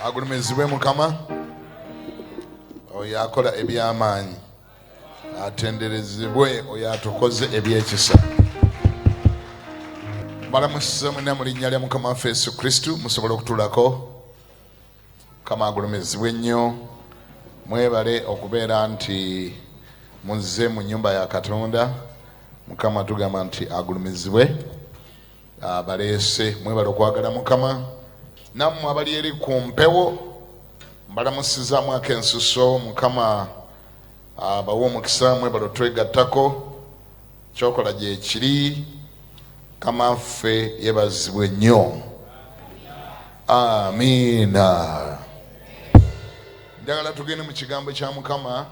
agulumizibwe mukama oyo akola ebyamaanyi atenderezebwe oyo atukoze ebyekisa balamusiza mwena mu linnya lya mukama waffe yesu kristu musobola okutulako mukama agulumizibwe nnyo mwebale okubeera nti muzze mu nyumba ya katonda mukama tugamba nti agulumizibwe abaleese ah, mwebale okwagala mukama nammwe abali eri ku mpewo mbalamusizaamu ako ensuso mukama abawa ah, omukisa mwebale otwegattako kyokola gyekiri kama ffe yebazibwe nnyo amiina njagala tugende mu kigambo kya mukama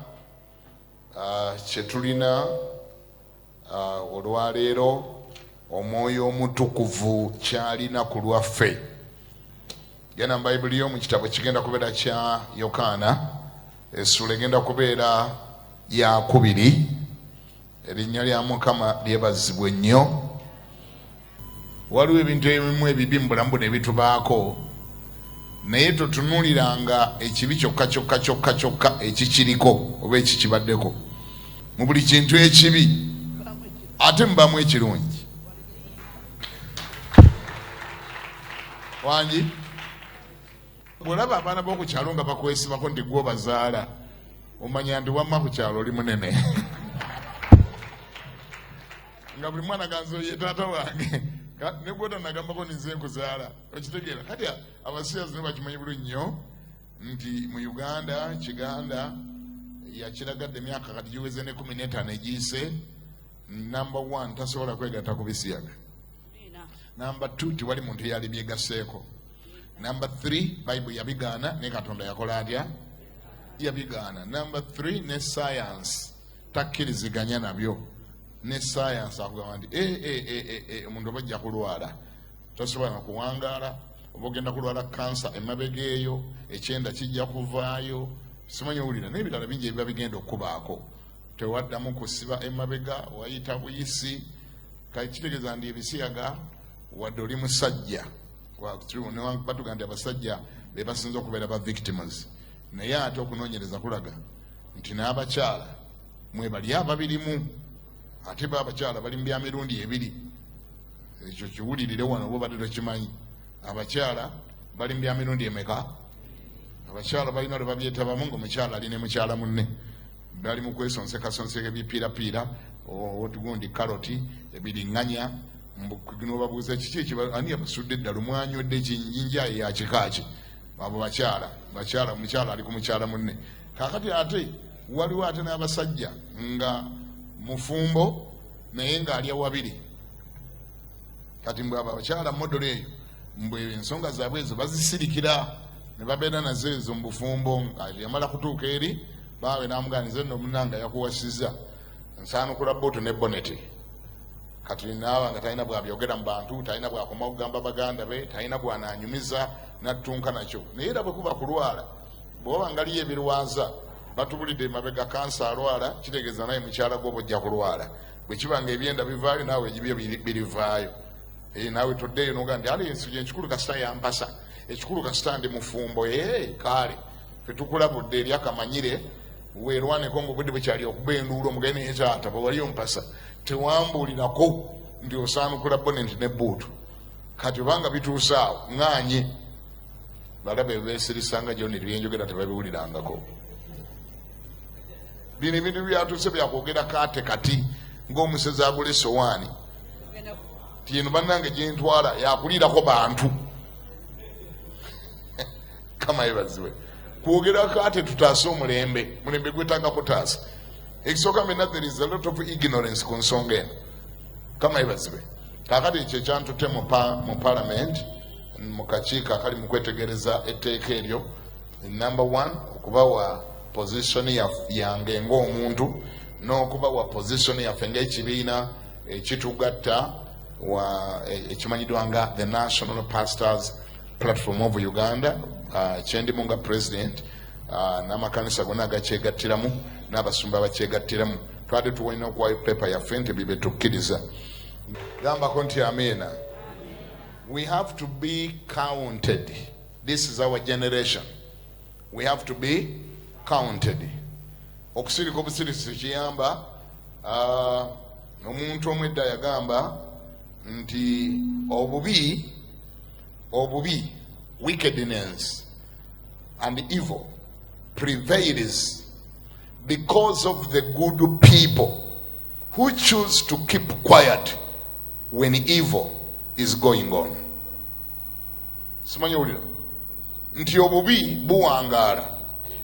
ah, kyetulina uh, Uh, olwaleero omwoyo omutukuvu kyalina ku lwaffe genda mu bayibuli yo mu kitabo kigenda kubeera kya yokaana essuula egenda kubeera yakubiri erinnya lya mukama lyebazibwe nnyo waliwo ebintu ebimu ebibi mu bulamu buno ebitubaako naye totunuliranga ekibi kyokka kyokka kyokka kyokka ekikiriko oba ekikibaddeko mu buli kintu ekibi ate mubamu ekirungi wangi bwolaba abaana boku kyalo nga bakwesibako nti gwe obazaala omanya nti wamma ku kyalo oli munene nga buli mwana ganzo ye taata wange ne gwota nagambako ninze nkuzaala okitegeera kati abasiyazi ne bakimanyi bulu nnyo nti mu uganda kiganda yakiragadde emyaka kati giweze ne kumi netaano egiyise number one tasobola kwegatta ku bisiyaga number two tiwali muntu eyali byegaseeko number three bible yabigaana ne katonda yakola atya yabigaana number three ne sayansi takkiriziganya nabyo ne sayansi akugamba nti eh, eh, eh, omuntu oba ajja kulwala tosobola nakuwangaala oba ogenda kulwala kansa emabega eyo ekyenda kijja kuvaayo simanyi owulira naye ebirala bingi ebiba bigenda okukubaako tewaddamu kusiba emabega wayita buyisi kati kitegeeza ndi ebisiyaga wadde oli musajja batuga nti abasajja bebasinza okubeera ba victims naye ate okunonyereza kulaga nti n'abakyala mwebali ababirimu ate ba abakyala bali mu bya mirundi ebiri ekyo kiwulirire wano oba obadde tokimanyi abakyala bali mu bya mirundi emeka abakyala balina lwe babyetabamu ngaomukyala ali ne mukyala munne bali mu kwesonsekasonseka ebipiirapiira otugundi karoti ebiringanya nobabuuza kiki ekiani abasudde eddala omwanywedde kinjinjaye yakikaaki abo bakyala bakyala omukyala ali ku mukyala munne kakati ate waliwo ate n'abasajja nga mufumbo naye ng'alya wabiri kati mbwe abo abakyala modolo eyo mbwe ensonga zaabwe ezo bazisirikira ne babeera nazo ezo mu bufumbo yamala kutuuka eri baawe namuganiza no omunanga yakuwasiza nsaanukula buutu ne boneti kati naaba nga talina bwabyogera mu bantu talina bwakoma okugamba baganda be talina gwananyumiza nattunka nakyo naye era bwe kuba kulwala bwoba ngaliyo ebirwaza batubulidde emabega kansa alwala kitegeeza naye mukyala gwe obojja kulwala bwekiba nga ebyenda bivaayo naawe ebyo birivaayo eh, naawe toddeeyo noga nti ali ensi gyenkikulu kasita yampasa ekikulu kasita ndi mufumbo ee eh, kaale fetukulabudde eri akamanyire werwaneko nga obudde bwekyali okuba enduulu omugende naye taata bwewali ompasa tewambuulirako nti osaanukula bonenti ne buutu kati obanga bituusaawo ŋŋaanye bala bebesirisa nga joni byenjogera tebabiwulirangako bino ebintu byatuuse byakwogera kate kati ngaomusezi agula esowaani tieno banange gyentwala yakuliirako bantu kama yebaziwe kwogera kate tutaase omulembe mulembe gwetanga kutaasa ekisooka mena there is a lot of ignorance ku nsonga eno kama yebaziwe kakati ekyo ekyantute mu palamenti mu kakiiko akali mu kwetegereza etteeka eryo enamba one okubawa pozisoni yange ng'omuntu n'okubawa pozisoni yaffe ng'ekibiina ekitugatta e, ekimanyidwa nga the national pastors platform of uganda uh, kyendimu nga president uh, n'amakanisa gona agakyegattiramu n'abasumba abakyegattiramu twade tuwalina okuwayo pepa yaffe nti bibetukkiriza gambako nti amiina We have to be counted. This is our generation. We have to be counted. Okusirika obusirisi kiyamba uh, omuntu omu edda yagamba nti obubi obubi wickedness and evil prevails because of the good people who choose to keep quiet when evil is going on simanyi wulira nti obubi buwangaala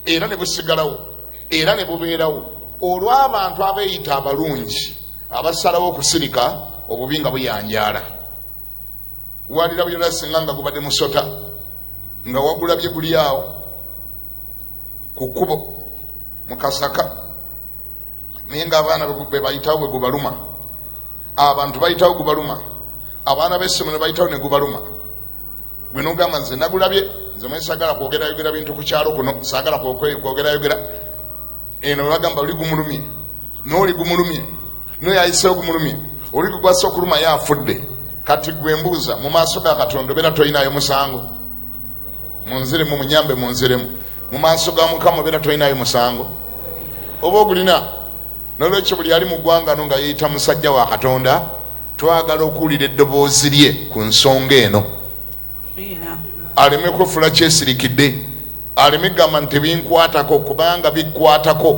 era ne busigalawo era ne bubeerawo olw'abantu abeeyita abalungi abasalawo okusirika obubi nga buyanjaala walira buyona singa nga gubadde musota nga wagulabye guli awo ku kkubo mu kasaka naye nga abaana bebayitawo bwegubaluma abantu bayitawo gubaluma abaana besimu nebayitawo negubaluma gwenogamba nze nagulabye nze mwe sagala kwogerayogera bintu ku kyalo kuno sagala kwogerayogera eno bagamba oli gumulumye nooli gumulumye noyo ayisewo gumulumye oli gugwasa okuluma ye afudde kati gwe mbuuza mu maaso ga katonda obeera tolinayo musango munziremu munyambe munziremu mu maaso ga mukama obeera tolinayo musango oba ogulina nolwekyo buli ali mu ggwanga no nga yeeyita musajja wa katonda twagala okuwulira eddoboozi lye ku nsonga eno aleme kwefula kyesirikidde aleme gamba nti tebinkwatako kubanga bikwatako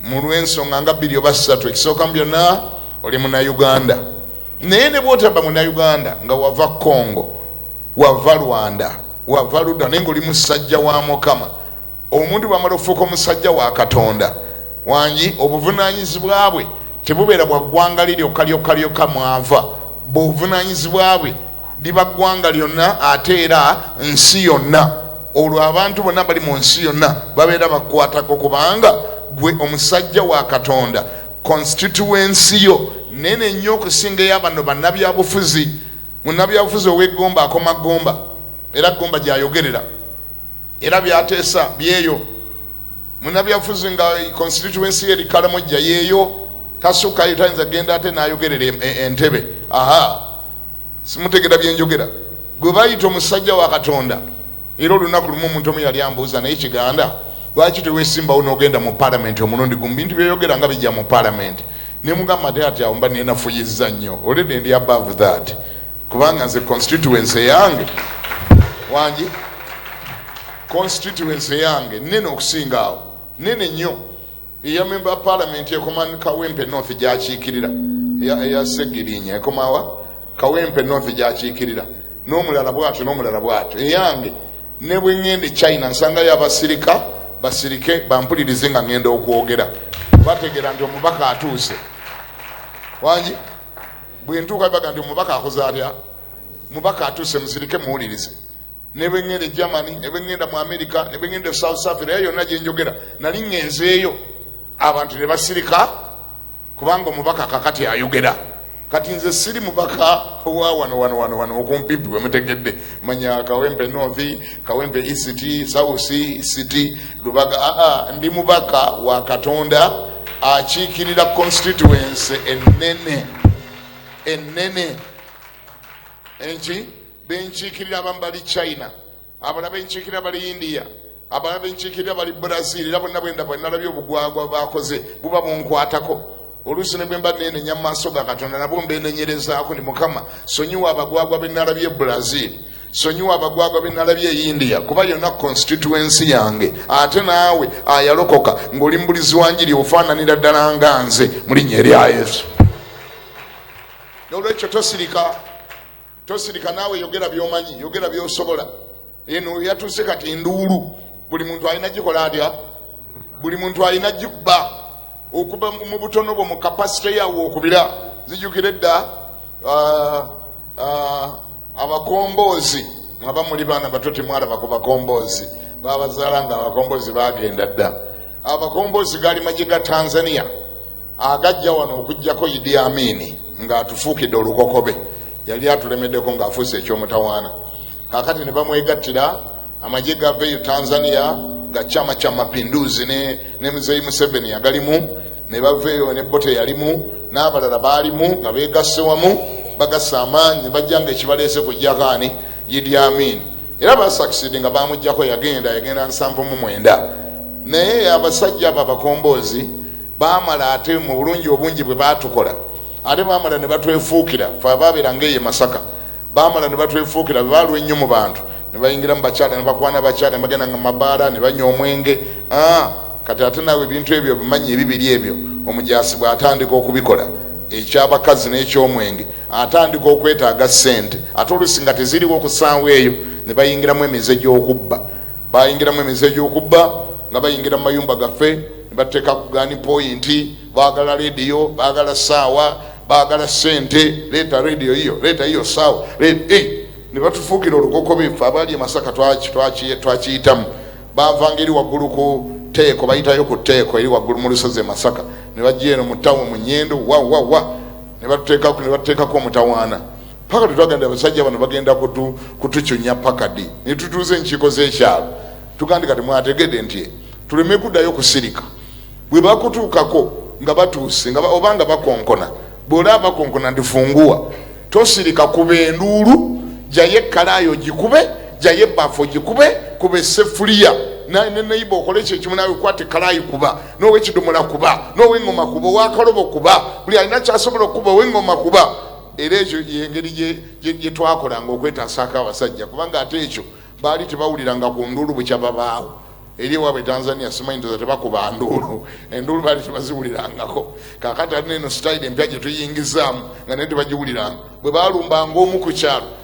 mu lw'ensonga nga bbiri oba ssatu ekisooka mu byonna oli munauganda naye ne bwotaba munauganda nga wava congo Wava Rwanda wava luda naye nga oli musajja wa mukama omuntu bamala okufuuka omusajja wa katonda wangi obuvunanyizibwa bwe tebubeera bwa ggwanga li lyokka lyokka lyokka mwava buvunanyizibwa bwe liba ggwanga lyonna ate era nsi yonna olwo abantu bonna bali mu nsi yonna babeera bakwatako kubanga gwe omusajja wa katonda constituensi yo nene nnyo okusinga eyabano bannabyabufuzi Munnabyabufuzi ow'e Gomba akoma Gomba era Gomba gy'ayogerera era by'ateesa byeyo. Munnabyabufuzi nga konsitityuwensi ye eri Karamojja yeeyo tasukkayo tayinza genda ate n'ayogerera e, e, Entebbe. Aha, simutegera bye njogera. Gwe bayita omusajja wa Katonda era olunaku lumu omuntu omu yali ambuuza naye kiganda lwaki tewesimbawo n'ogenda mu palamenti omulundi gumu bintu byoyogera nga bijja mu palamenti nemugamba ate ati awo mba nenafuyizza nnyo already ndi above that kubanga nze constituency eyange wangi constituency eyange nene okusinga awo nene nnyo eya memba parliament ekoma kawempe north gyakiikirira eya segirinya ekomawa kawempe north gyakiikirira n'omulala bwatyo n'omulala bwatyo eyange ne bwe ŋŋenda e china nsangayo abasirika basirike bampulirize nga ŋŋenda okwogera bategeera nti omubaka atuuse wangi bwe ntuuka bibaga nti omubaka akoze atya mubaka atuuse musirike muwulirize ne bwe ŋŋenda e germany ne bwe ŋŋenda mu amerika ne bwe ŋŋenda e south africa era yonna gye njogera nali ŋŋenzeeyo abantu ne basirika kubanga omubaka kakati ayogera kati nze siri mubaka owa wano wano wano wano okumpipi wemutegedde manya kawempe north kawempe east south east lubaga aa ndi mubaka wa katonda akiikirira constituency enene enene enki benkiikirira abamu bali china abalala benkiikirira bali india abalala benkiikirira bali brazil era bonna bwenda bwenalabye obugwagwa bakoze buba bunkwatako oluusi ne bwemba neenenya mu maaso ga katonda nabwo mbeenenyerezaako ni mukama sonyiwa abagwagwa benalabye e brazil sonyiwa abagwagwa benalabye e india kuba yonna constituensi yange ate naawe ayalokoka ng'oli mubulizi wanjiri ofaananira ddala nga nze mu linnya erya yesu nolwekyo tosirika Tosirika naawe yogera byomanyi yogera byosobola eno yatuse kati nduulu buli muntu alina gikola atya buli muntu alina gikuba okuba mu butono bwo mu kapasite yawe okubira zijukire dda uh, uh, abakomboozi mwaba muli baana bato temwalaba ku bakomboozi babazaala nga abakomboozi bagenda dda abakomboozi gaali magye ga tanzania agajja wano okujjako idi amiini ng'atufuukidde olukokobe yali atulemeddeko ng'afuuse eky'omutawaana kakati ne bamwegattira amagye gava eyo tanzania ga chama cha mapinduzi ne, ne muzeyi museveni yagalimu ne bava eyo ne bote yalimu n'abalala baalimu nga beegasse wamu bagasa amaanyi nebajja nga ekibaleese kujjako ani idi amiini era basakisidi nga bamujjako yagenda yagenda nsanvu mu mwenda naye abasajja abo abakomboozi baamala ate mu bulungi obungi bwe baatukola ate baamala ne batwefuukira fe abaabeera nga eye masaka baamala ne batwefuukira be baalwa ennyo mu bantu ne bayingira mu bakyala ne bakwana bakyala ne bagenda nga mabaala ne banywa omwenge ah, kati ate naawe ebintu ebyo bimanyi ebibiri ebyo omujaasi bw'atandika okubikola ekyabakazi n'ekyomwenge atandika okwetaaga ssente ate oluusi nga teziriwo okusaawo eyo ne bayingiramu emize gy'okubba Baayingiramu emize egy'okubba nga bayingira mu mayumba gaffe ne bateeka ku gaani pooyinti, baagala leediyo, baagala ssaawa, baagala ssente, leeta leediyo yiyo, leeta yiyo ssaawa, leeta eh! ne batufuukira olukokobe. Ffe abaali e Masaka twakiyitamu. Baavanga eri waggulu ku tteeko, bayitayo ku tteeko eri waggulu mu lusozi e Masaka, ne bajja eno mu ttawuni mu Nyendo, wa wa wa, ne batuteekako ne batuteekako omutawaana. paka tetwagenda abasajja bano bagenda kutucunya pakadi netutuuza enkiiko zekyalo tugandi kati mwategede nti tuleme kuddayo kusirika bwebakutuukako nga batuuse oba nga bakonkona bwolaba bakonkona ndifunguwa tosirika kuba enduulu jayo ekkalaayo gikube jayo ebbaafu gikube kuba esefuliya neneiba okola ekyo ekimu nawe kwata ekkalaayi kuba nowekidomola kuba noweŋoma kuba owakalobo kuba buli alina kyasobola okukuba oweŋoma kuba era ekyo yengeri gye twakolanga okwetasaako abasajja kubanga ate ekyo baali tebawuliranga ku nduulu bukya babaawo eri ewaabwe tanzania simanyiza tebakuba nduulu enduulu baali tebaziwulirangako kakati alina eno sitayiri empya gye tuyingizaamu nga naye tebagiwuliranga bwe balumbanga omu ku kyalo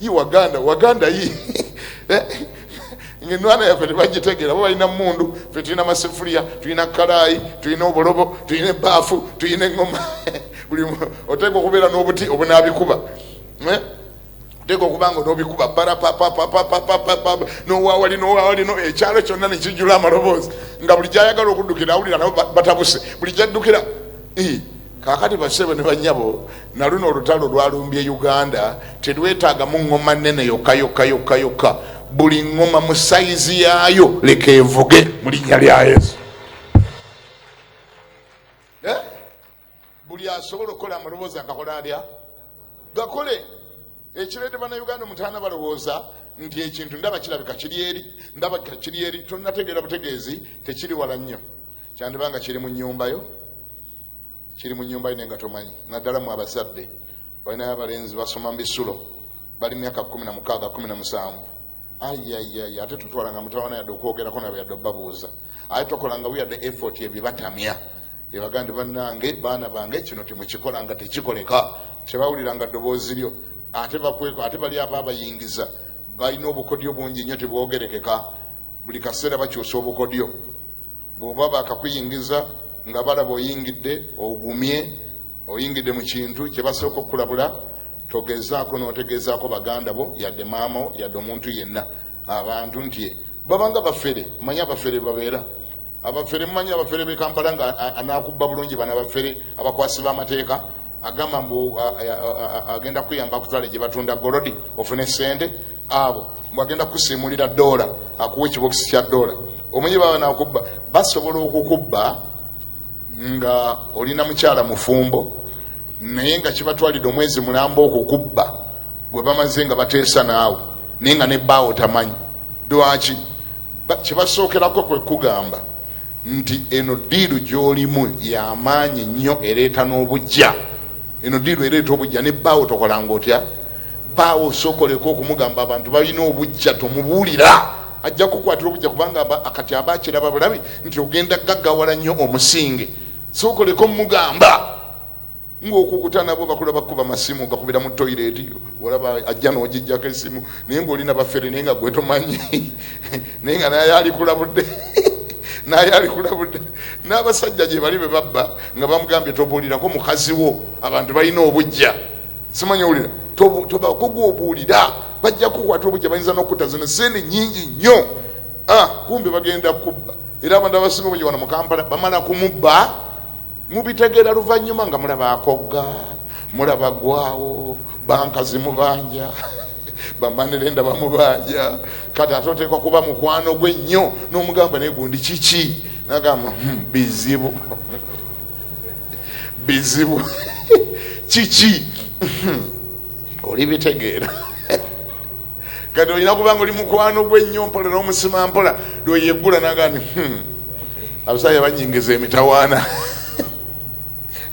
yi waganda waganda yi eh? ngenwana yaffe tebagitegeera bo balina mundu fe tulina masefuliya tulina kalaayi tulina obulobo tulina ebaafu tulina eŋoma buli oteeka okubeera n'obuti obunaabikuba eh? oteeka okuba nga onobikuba barapapapapapapapa nowawali nowawali ekyalo kyonna nekijula amaloboozi nga buli gyayagala okuddukira awulira nabo batabuse buli gyaddukira Kakati basebo ne banyabo naluno olutalo lwalumbye Uganda telwetagamu ngoma nene yoka yoka yoka yoka buli ngoma mu saizi yaayo leka evuge mu linnya lya Yesu. Eh? buli asobola okukola amaloboozi agakola alya gakole ekireete banauganda omutaana balowooza nti ekintu ndaba kirabika kiri eri ndaba kiri eri tonategeera butegeezi tekiri wala nnyo kyandibanga kiri mu nyumbayo kiri mu nyumba yo naye nga tomanyi naddala mu abazadde balinayo abalenzi basoma mu bisulo bali myaka kumi na mukaaga kumi na musanvu ayayaya ate tutwalanga mutawana yadde okwogerako nabo yadde obabuuza ate tokolanga wiyadde effort ebyo batamya ebaga nti banange baana bange kino temukikola nga tekikoleka tebawulira nga ddoboozi lyo ate bakweko ate bali aba abayingiza balina obukodyo bungi nnyo tebwogerekeka buli kaseera bakyusa obukodyo bwoba bakakuyingiza nga balaba oyingidde ogumye oyingidde mu kintu kyebasooka okukulabula togezaako notegezaako baganda bo yadde maamao yadde omuntu yenna abantu nti babanga bafere manya bafere babeera abafere mumanyi abafere be kampala nga anakubba bulungi bana bafere abakwasi b'amateeka agamba mbu agenda kuyamba akutwale gye batunda golodi ofune sente abo mbu agenda kukusiimulira doola akuwa ekibokisi kya doola omanyi baba nakubba basobola okukubba nga olina mukyala mufumbo naye nga kibatwalidde omwezi mulamba okukubba gwe bamaze nga bateesa naawe naye nga ne baawo tamanyi Dwaki? Kye basookerako kwe kugamba nti eno ddiiru gy'olimu y'amaanyi nnyo ereeta n'obujja. Eno ddiiru ereeta obujja ne bbaawo tokolanga otya? Bbaawo osookoleka okumugamba abantu balina obujja tomubuulira ajja kukwatira obujja kubanga kati aba akiraba bulabi nti ogenda gaggawala nnyo omusinge sookoleka omugamba ngaokukuta nabo bakula bakuba masimu gakubira mu toilet olaba ajja nogijjako esimu naye ngaolina bafere naye nga gwetomanyi naye nga naye alikulabudde naye alikulabudde n'abasajja gye bali be babba nga bamugambye tobuulirako mukazi wo abantu balina obujja simanyi owulira tobakogwa obuulira bajja kukwata obujja bayinza n'okutta zino sente nyingi nnyo ah, kumbe bagenda kubba era abantu abasinga obujja wano mu kampala bamala kumubba Mubitegera luvanyuma nga mulaba akogga mulaba gwawo banka zimubanja bamanire nda bamubanja kati ate oteekwa kuba mukwano gwe nnyo nomugamba naye gundi kiki nagamba hmm, bizibu bizibu kiki hmm, olibitegeera kati olina kubanga oli mukwano gwe nnyo mpola n'omusima mpola lweyeggula nagani hmm, abasajja banyingiza emitawaana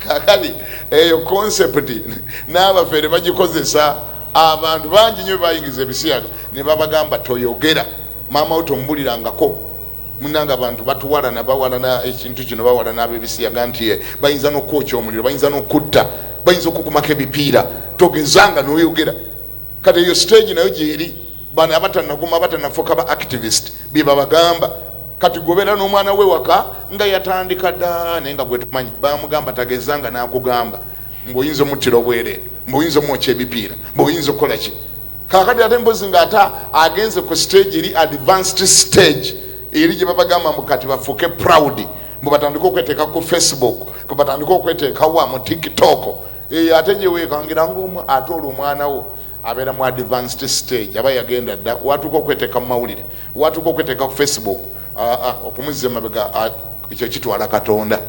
kakati eyo konsepti n'abafere bagikozesa abantu bangi nyo bebayingiza ebisiyaga ne babagamba toyogera maama wo tomubulirangako munanga abantu batuwalana bawalana ekintu kino bawalana abebisiyaga nti eh, bayinza n'okwokya omuliro bayinza n'okutta bayinza okukumako ebipiira togezanga noyogera kati eyo stage nayo gyeri bano abatanaguma abatanafuka ba activist byebabagamba kati gobera n'omwana we waka nga yatandika da naye nga gwetumanyi bamugamba tageza nga nakugamba mbuoyinza omuttira obwereere mbuoyinza omwokya ebipiira mbuoyinza okukola ki kakati ate mbozi nga ate agenze ku stage eri advanced stage eri gye babagamba mbu kati bafuuke proud mbu batandike okweteeka ku facebook mbu batandike okweteekawa mu tiktok eyo ate gyewekangira ngaomu ate olwo omwana wo abeera mu advanced stage aba yagenda dda watuuka okweteeka mu mawulire watuuka okweteeka ku facebook okumuzza emabega ekyo kitwala katonda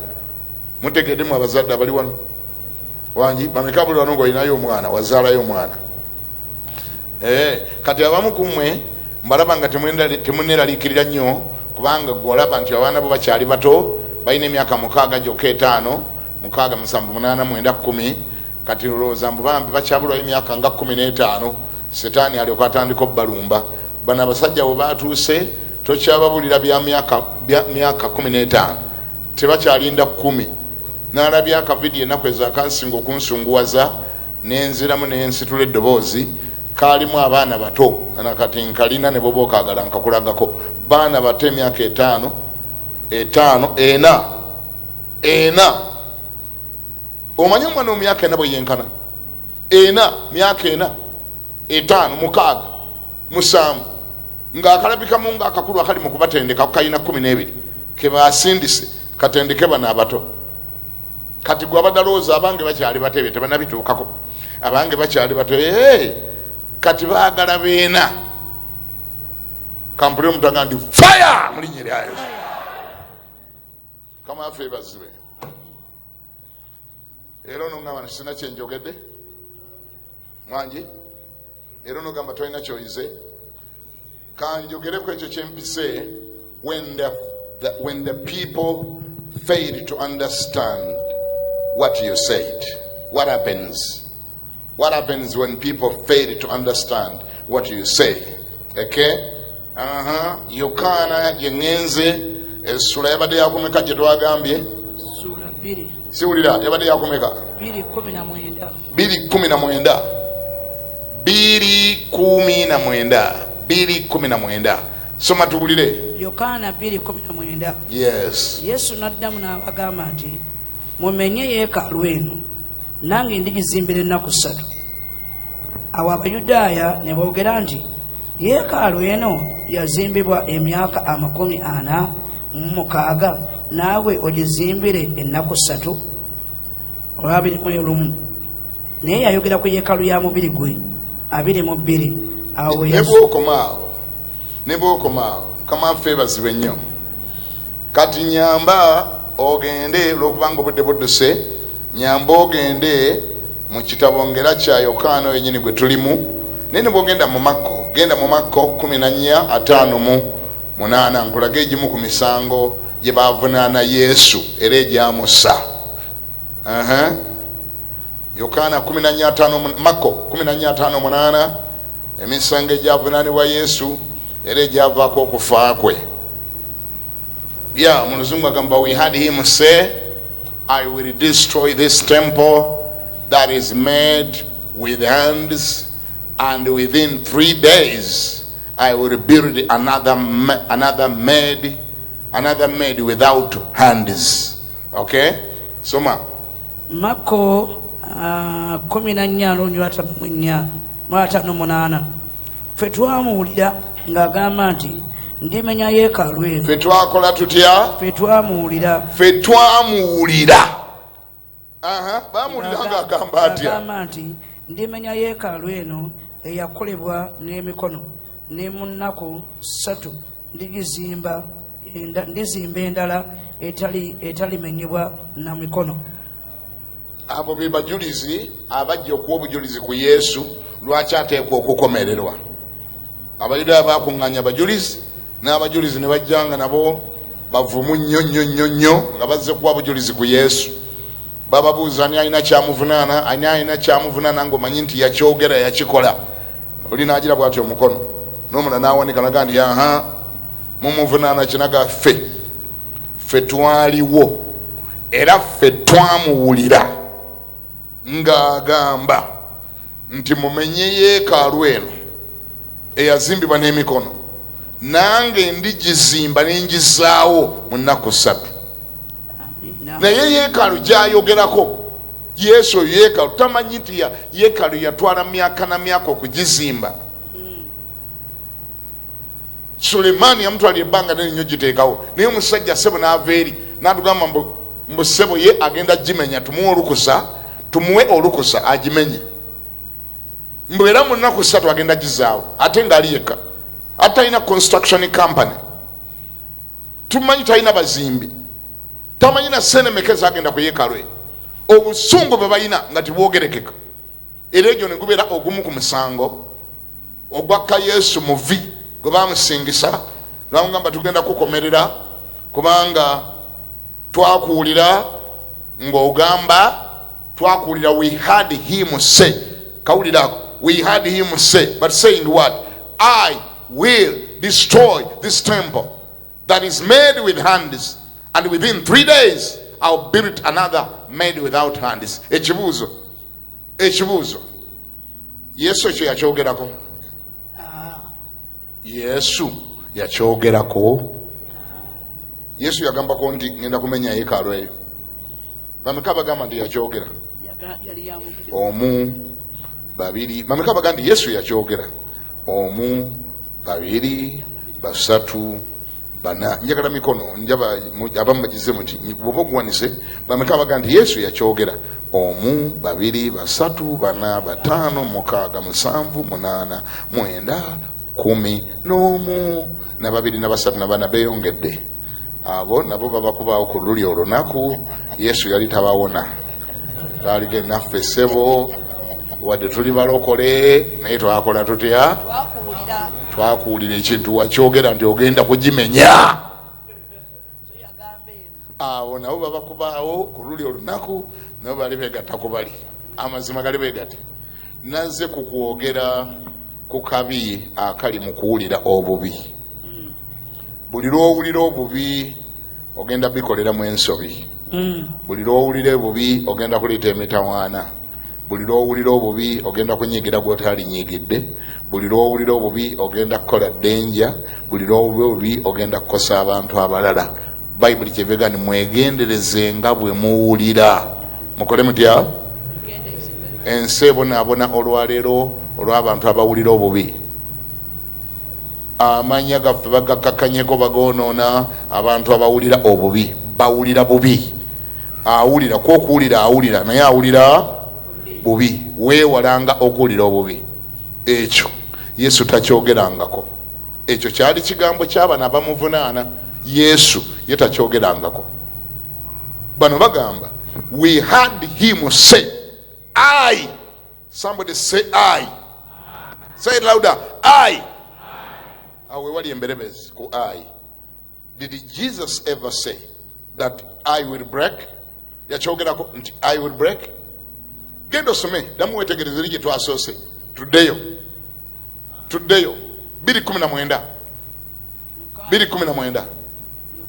mutegede mu abazadde abali wano wangi bameka buli wano ngaolinayo omwana wazaalayo omwana eh, kati abamu kumwe mbalaba nga temuneralikirira nnyo kubanga gwe olaba nti abaana bo bakyali bato balina emyaka mukaaga gyoka etaano mukaaga musanvu munaana mwenda kumi kati lowooza mbu bambi bakyabulwayo emyaka nga kumi n'etaano setaani alyoka atandika obubalumba bano abasajja we batuuse tokyababulira bya myaka kumi n'etaano tebakyalinda kumi nalabya akavidiyo enaku ezakansinga okunsunguwaza nenziramu nensitula eddoboozi kalimu abaana bato nakati nkalina neboba okagala nkakulagako baana bato emyaka etaano etaano ena ena omanyi omwana omumyaka ena bweyenkana ena myaka ena etaano mukaaga musanvu ngaakalabikamu nga akakulu akali mu kubatendeka kukalina kumi n'ebiri kebasindise katendeke bano abato kati gwe abadalowooza abange bakyali bato ebyo tebanabituukako abange bakyali bato ee kati baagala beena kampulire omutanga nti fire mulinyeryayo kama afe bazibe era onongamba ntisina kyenjogedde mwangi era onogamba tolina kyoyize kanjogereku ekyo kyempise when the, the, when the people fail to understand what you said what happens What happens when people fail to understand what you say? Okay? Uh huh. Yokaana gye ŋŋenze essula yabadde yakumeka gye twagambye siwulira yabadde yakumeka biri kumi na mwenda biri kumi na mwenda biri kumi na mwenda soma tuwulire yokaana biri kumi na mwenda yes yesu n'addamu n'abagamba nti mumenye yeekaalu eno nange ndigizimbira ennaku ssatu awo abayudaaya ne boogera nti yeekaalu eno yazimbibwa emyaka amakumi ana mu mukaaga naawe ogizimbire ennaku ssatu olwabiri mu olumu naye yayogera ku yeekaalu ya mubiri gwe abiri mu bbiri awo ne bwokoma awo ne bwokoma awo mukama waffe bazibe nnyo kati nyamba ogende olwokubanga obudde budduse Nyamba ogende mu kitabo ngera kya Yokaana oyo nyini gwe tulimu, naye ne bw'ogenda mu Makko, genda mu Makko kumi na nnya ataano mu munaana nkulage egimu ku misango gye baavunaana Yesu era egyamussa. Yokaana kumi na nnya ataano mu, Makko kumi na nnya ataano munaana emisango egyavunaanibwa Yesu era egyavaako okufa kwe. Yeah, mu luzungu agamba we had him say I will destroy this temple that is made with hands, and within three days I will build another, another made, another made without hands. Okay? Soma. Mako uh, kumi na nnya n'onywa atano mu nnya n'atano munaana ffe twamuwulira ng'agamba nti ndimenya yeekaalu eno ffe twakola tutya ffe twamuwulira ffe twamuwulira bamuwulira ng'agamba atyagamba nti ndimenya yeekaalu eno eyakolebwa n'emikono ne mu nnaku ssatu ndigizimba enda- ndizimba endala etali etalimenyebwa na mikono abo be bajulizi abajja okuwa obujulizi ku yesu lwaki ateekwa okukomererwa abayudaaya bakuŋŋanya abajulizi n'abajulizi ne bajja nga nabo bavumu nnyo nnyo nnyo nnyo nga bazze kuwa bujulizi ku yesu Bababuuza ani alina kyamuvunaana, ani alina kyamuvunaana ng'omanyi nti yakyogera yakikola. Oli n'agira bw'ati omukono n'omulala n'awanika naga nti aha mumuvunaana ki naga ffe ffe twaliwo era ffe twamuwulira ng'agamba. nti mumenye yeekaalu eno eyazimbibwa n'emikono nange ndigizimba ne ngizaawo mu nnaku ssatu naye yeekaalu gyayogerako yesu oyo yeekaalu tamanyi nti yeekaalu yatwala myaka na myaka okugizimba Sulemaani yamutwala ebbanga nene nnyo giteekawo naye omusajja ssebo n'ava eri n'atugamba mbu mbu ssebo ye agenda gimenya tumuwe olukusa tumuwe olukusa agimenye mbu era mu nnaku ssatu agenda gizaawo ate ng'ali yekka ate talina construction company tumanyi talina bazimbi tamanyi na sente meka ezagenda ku yekalwe obusungu bwe balina nga tibwogerekeka era egyo ne gubeera ogumu ku musango ogwakka yesu muvi gwe bamusingisa lwamugamba tugenda kukomerera kubanga twakuwulira ng'ogamba twakuwulira we had him say kawulira ako we had him say but saying what i will destroy this temple that is made with hands and within three days I'll build another made without hands ekibuuzo ekibuuzo yesu ekyo yakyogerako ah. yesu yakyogerako yesu yagambako nti ngenda kumenya yekaalo eyo bameka bagamba nti yakyogera omu babiri bameka bagamba nti yesu yakyogera omu babiri basatu bana njagala mikono njaba abamu bagize muti bwoba oguwanise bameka bagamba nti yesu yakyogera omu babiri basatu bana bataano mukaaga musanvu munaana mwenda kumi n'omu na babiri na basatu na bana beyongedde abo nabo babakubaawo ku luli olunaku yesu yali tabawona baaliga enaffe ssebo wadde tuli balokole naye twakola tutya twakuwulira ekintu wakyogera nti ogenda kugimenya abo nabo babakubaawo ku luli olunaku nabo bali begatta ku bali amazima gali begate nazze ku kwogera ku kabi akali mu kuwulira obubi mm. buli lwowulira obubi ogenda bikoleramu ensobi mm. buli lwowulira obubi ogenda kuleeta emitawaana buli lwowulira obubi ogenda kunyigira gwotalinyigidde buli lwowulira obubi ogenda kukola denja buli lwowulira obubi ogenda kukosa abantu abalala bayibuli kyevega ni mwegendereze nga bwe muwulira mukole mutya ensi ebonaabona olwaleero olw'abantu abawulira obubi amanya gaffe bagakakanyeko bagonoona abantu abawulira obubi bawulira bubi awulira kwokuwulira awulira naye awulira bubi weewalanga okuwulira obubi ekyo yesu takyogerangako ekyo kyali kigambo kyabana abamuvunaana yesu ye takyogerangako bano bagamba we had him say i somebody say i say louder i awo wewali emberebezi ku i did jesus ever say that i will break yakyogerako nti i will break genda osome damu wetegereze eri gyetwasoose tuddeyo tuddeyo 219 219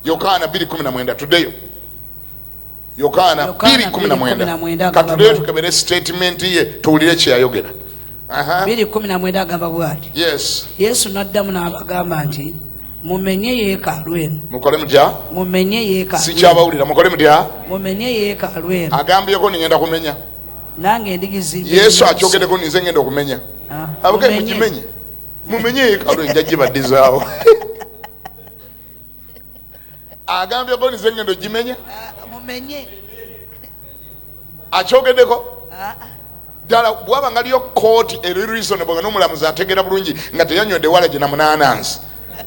yokaana 219 tuddeyo Yokaana 2:19 katuleyo tukebere sitatimenti ye tuwulire kye yayogera. biri kumi na mwenda agamba bwati yesu n'addamu n'abagamba nti mumenye yeekaalu eno mukole mutya mumenye yeekaalu sikyabawulira mukole mutya mumenye yeekaalu eno agambyeko ningenda kumenya nange endigizimba yesu akyogedeko ninze ngenda okumenya ah, abagee mukimenye mumenye yeekaalu enjajibadizaawo agambye goni zengendo gimenya ah, mumenye akyogedeko ah, ah. ddala bwaba ngaliyo kooti eri reasonable nga nomulamuzi ategera bulungi nga teyanywedde wala gye namunanansi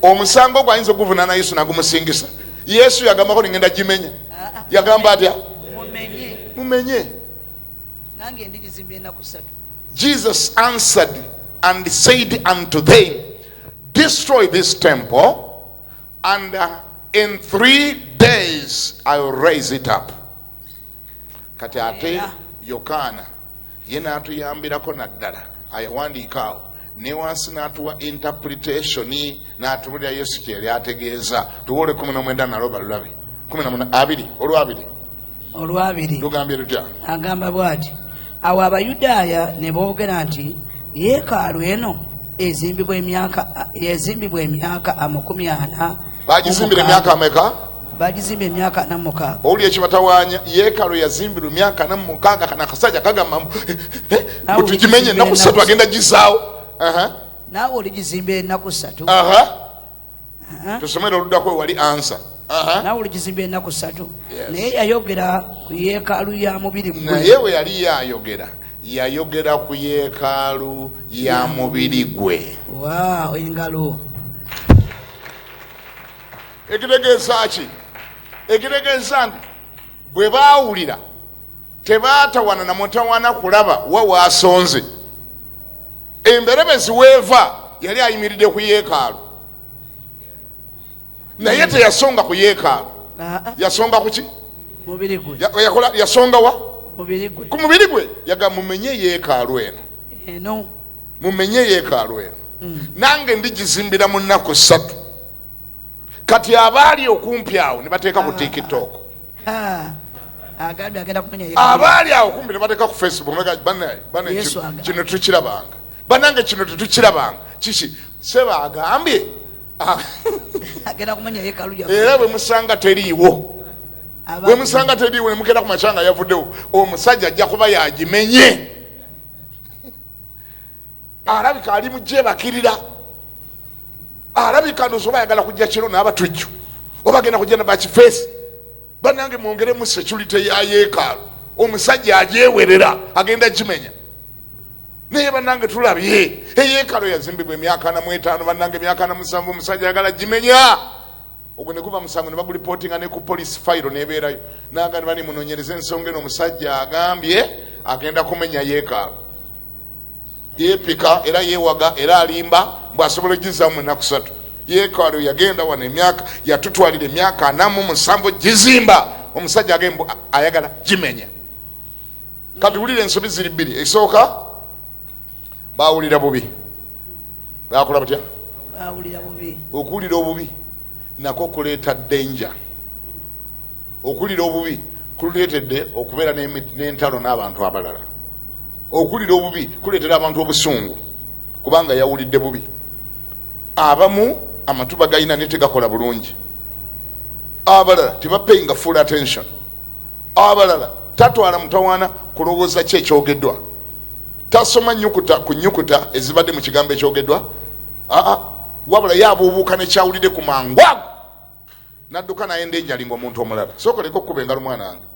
omusango ogwo ayinza okuguvunana yesu nagumusingisa yesu yagambako ningenda gimenya yagamba atya mumenye jesus answered and said unto them destroy this temple and uh, in three days i will raise it up kati ate yokaana ye n'atuyambirako naddala ayawandiika awo ne wansi n'atuwa interpretation n'atubulira yesu kyeyali ategeeza tuwa olwekumi nomwenda nalwo balulabe kumi na abiri olwabiri olwabiri lugambye lutya agamba bwati awo abayudaaya ne boogera nti yeekaalu eno ezimbibwa emyaka ezimbibwa emyaka amakumi ana bagizimbira emyaka ameka bagizimba emyaka ana mumukaaga owulira ekibatawanya yeekalo yazimbirwa emyaka ana mumukaaga kana akasajja kagamba eh, eh, eh, tugimenye enaku satu agenda gizaawo naawe oligizimba enaku satu tusomere oluddako wewali ansa nawe olugizimba enaku satu naye yayogera ku yekaalu ya mubiri naye we yali yayogera yayogera ku yekaalu ya mubiri gwe engalo ekitegeeza ki ekitegeeza nti bwe baawulira tebaatawana na mutawana kulaba wa waasonze emberebezi weeva yali ayimiridde ku yeekaalu naye teyasonga ku yeekaalu yasonga kuki yasonga wa ku mubiri gwe yaga mumenye yeekaalu eno mumenye yeekaalu eno mm. nange ndigizimbira mu nnaku ssatu kati abaali okumpi awo nebateeka ku tiktok abaali awo kumpi nebateeka ku facebook kino tukirabanga banange kino tetukirabanga kiki seba agambye ah. era bwemusanga teriiwo bwemusanga teriiwo nemugenda ku makyanga yavuddewo omusajja ajja kuba yagimenye alabika ali mujebakirira alabika ndozi oba ayagala kujja kiro n'abatujju oba agenda kujja nabakifeesi banange mwongeremu security ya yeekaalu omusajja ajewerera agenda kimenya naye banange tulabye eyeekalo yazimbibwa emyaka namwetaano banange emyaka namusanvu omusajja ayagala gimenya ogwo ne guba musango ne bagulipotinga ne ku police fayiro nebeerayo nagani bani munonyereza ensonga eno omusajja agambye agenda kumenya yeekaalo yeepika era yeewaga era alimba mbw asobola ogizamu enaku satu yeekaalo yagenda wano emyaka yatutwalira emyaka anamu musanvu gizimba omusajja agemb ayagala gimenya kati wulira ensobi ziri bbiri esooka bawulira bubi bakola batya okuwulira obubi nako kuleeta danger okuwulira obubi kuleetedde okubeera n'entalo n'abantu abalala okuwulira obubi kuleetera abantu obusungu kubanga yawulidde bubi abamu amatuba galina naye tegakola bulungi abalala tebapayinga full attention Abalala tatwala mutawaana kulowooza ki ekyogedwa. Tasoma nnyukuta ku nnyukuta ezibadde mu kigambo ekyogedwa, aa, wabula ye abuubuuka ne kyawulidde ku mangu ago n'adduka n'ayenda enjali ng'omuntu omulala. Sooka oleke okukuba engalo mwana wange.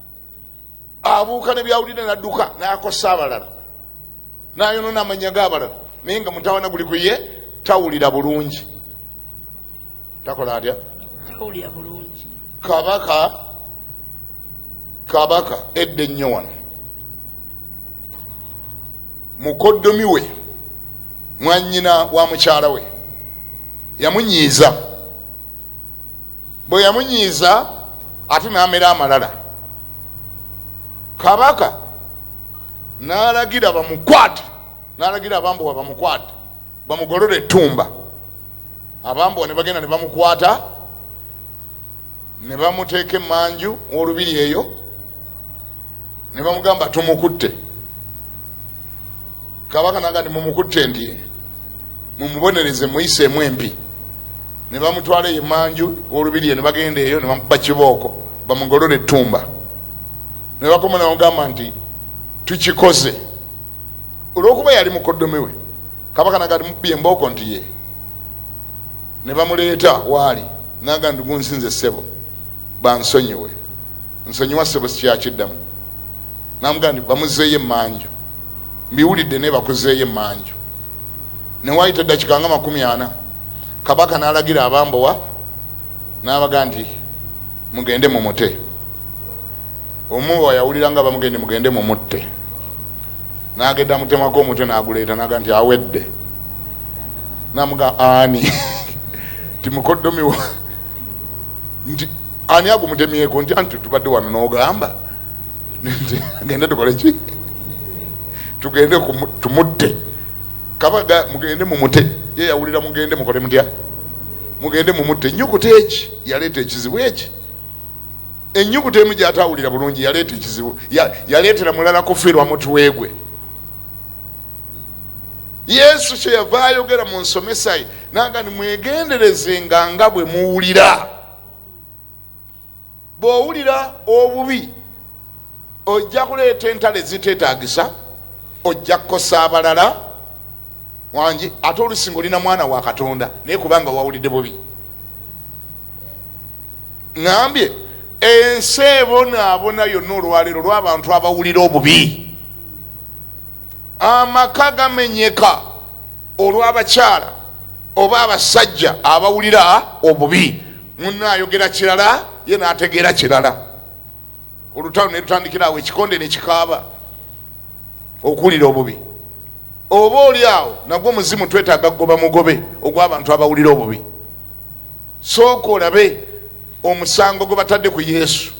Abuuka ne byawulidde n'adduka n'akosa abalala, n'ayonoona amannya g'abalala, naye nga mutawaana guli ku ye, tawulira bulungi. takola atya tawulira bulungi kabaka kabaka edda ennyo wano mukoddomi we mwanyina wa mukyala we yamunyiiza bwe yamunyiiza ate n'amera amalala kabaka n'alagira bamukwate n'alagira abambuwa bamukwate bamugolole ettumba abambowa ne bagenda ne bamukwata ne bamuteeka emanju olubiri eyo ne bamugamba tumukutte kabaka naga nti mumukutte nti mumubonereze muyiseemu empi ne bamutwala eyo emanju olubiri eyo ne bagenda eyo ne bamuba kibooko bamugolole ettumba ne bakoma ne bamugamba nti tukikoze olwokuba yali mukoddomi we kabaka nagatmubbi embooko nti ye ne bamuleeta waali naga nti gunsinze ssebo bansonyiwe nsonyiwa ssebo sikyakiddamu namuga nti bamuzeeyo emanju mbiwulidde naye bakuzeeyo emanju newaayita eddakika nga makumi ana kabaka nalagira abambowa nabaga nti mugende mumute omu wayawulira nga bamugende mugende mumutte nagenda mutemako omutwe naguleeta naga nti awedde namuga ani ti mukoddomiwa nti ani agumutemyeko nti anti tubadde wano nogamba nti agende tukole ki tugende tumutte kabaga mugende mumute ye yawulira mugende mukole mutya mugende mumutte enyukuta eki yaleeta ekizibu eki enyukuta emu gyatawulira bulungi yaleeta ekizibu yaleetera mulala kufirwa mutwegwe yesu kyeyava ayogera mu nsomesaye naga ni mwegenderezenga nga bwe muwulira bw'owulira obubi ojja kuleeta entalo eziteetaagisa ojja kukosa abalala wangi ate olusinga olina mwana wa katonda naye kubanga wawulidde bubi ŋambye ensi ebonaabona yonna olwaleero lw'abantu abawulira obubi amaka gamenyeka olw'abakyala oba abasajja abawulira obubi munno ayogera kirala ye nategeera kirala olutalo nelutandikira awo ekikonde nekikaaba okuwulira obubi oba oli awo nagwo muzimu twetaaga kugoba mugobe ogwabantu abawulira obubi sooka olabe omusango gwe batadde ku yesu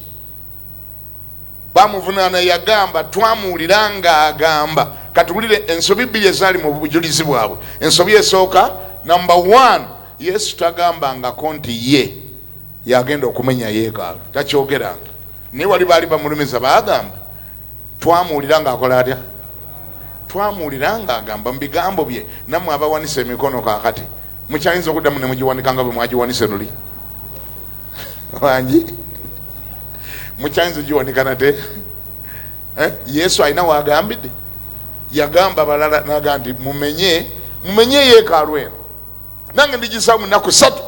bamuvunaana yagamba twamuwulira ngaagamba katuwulire ensobi bbiri ezaali mu bujulizi bwabwe ensobi esooka number one Yesu tagambangako nti ye yagenda okumenya yeekaalu, takyogeranga. Naye wali baali bamulumiza, baagamba twamuwulira ng'akola atya? Twamuwulira ng'agamba mu bigambo bye, nammwe abawanise emikono kaakati mukyayinza okuddamu ne mugiwanika nga bwe mwagiwanise luli wangi mukyayinza ogiwanika nate eh? yesu alina waagambidde yagamba balala naga nti mumenye mumenye yeekaalu eno nange ndigisawo mu nnaku ssatu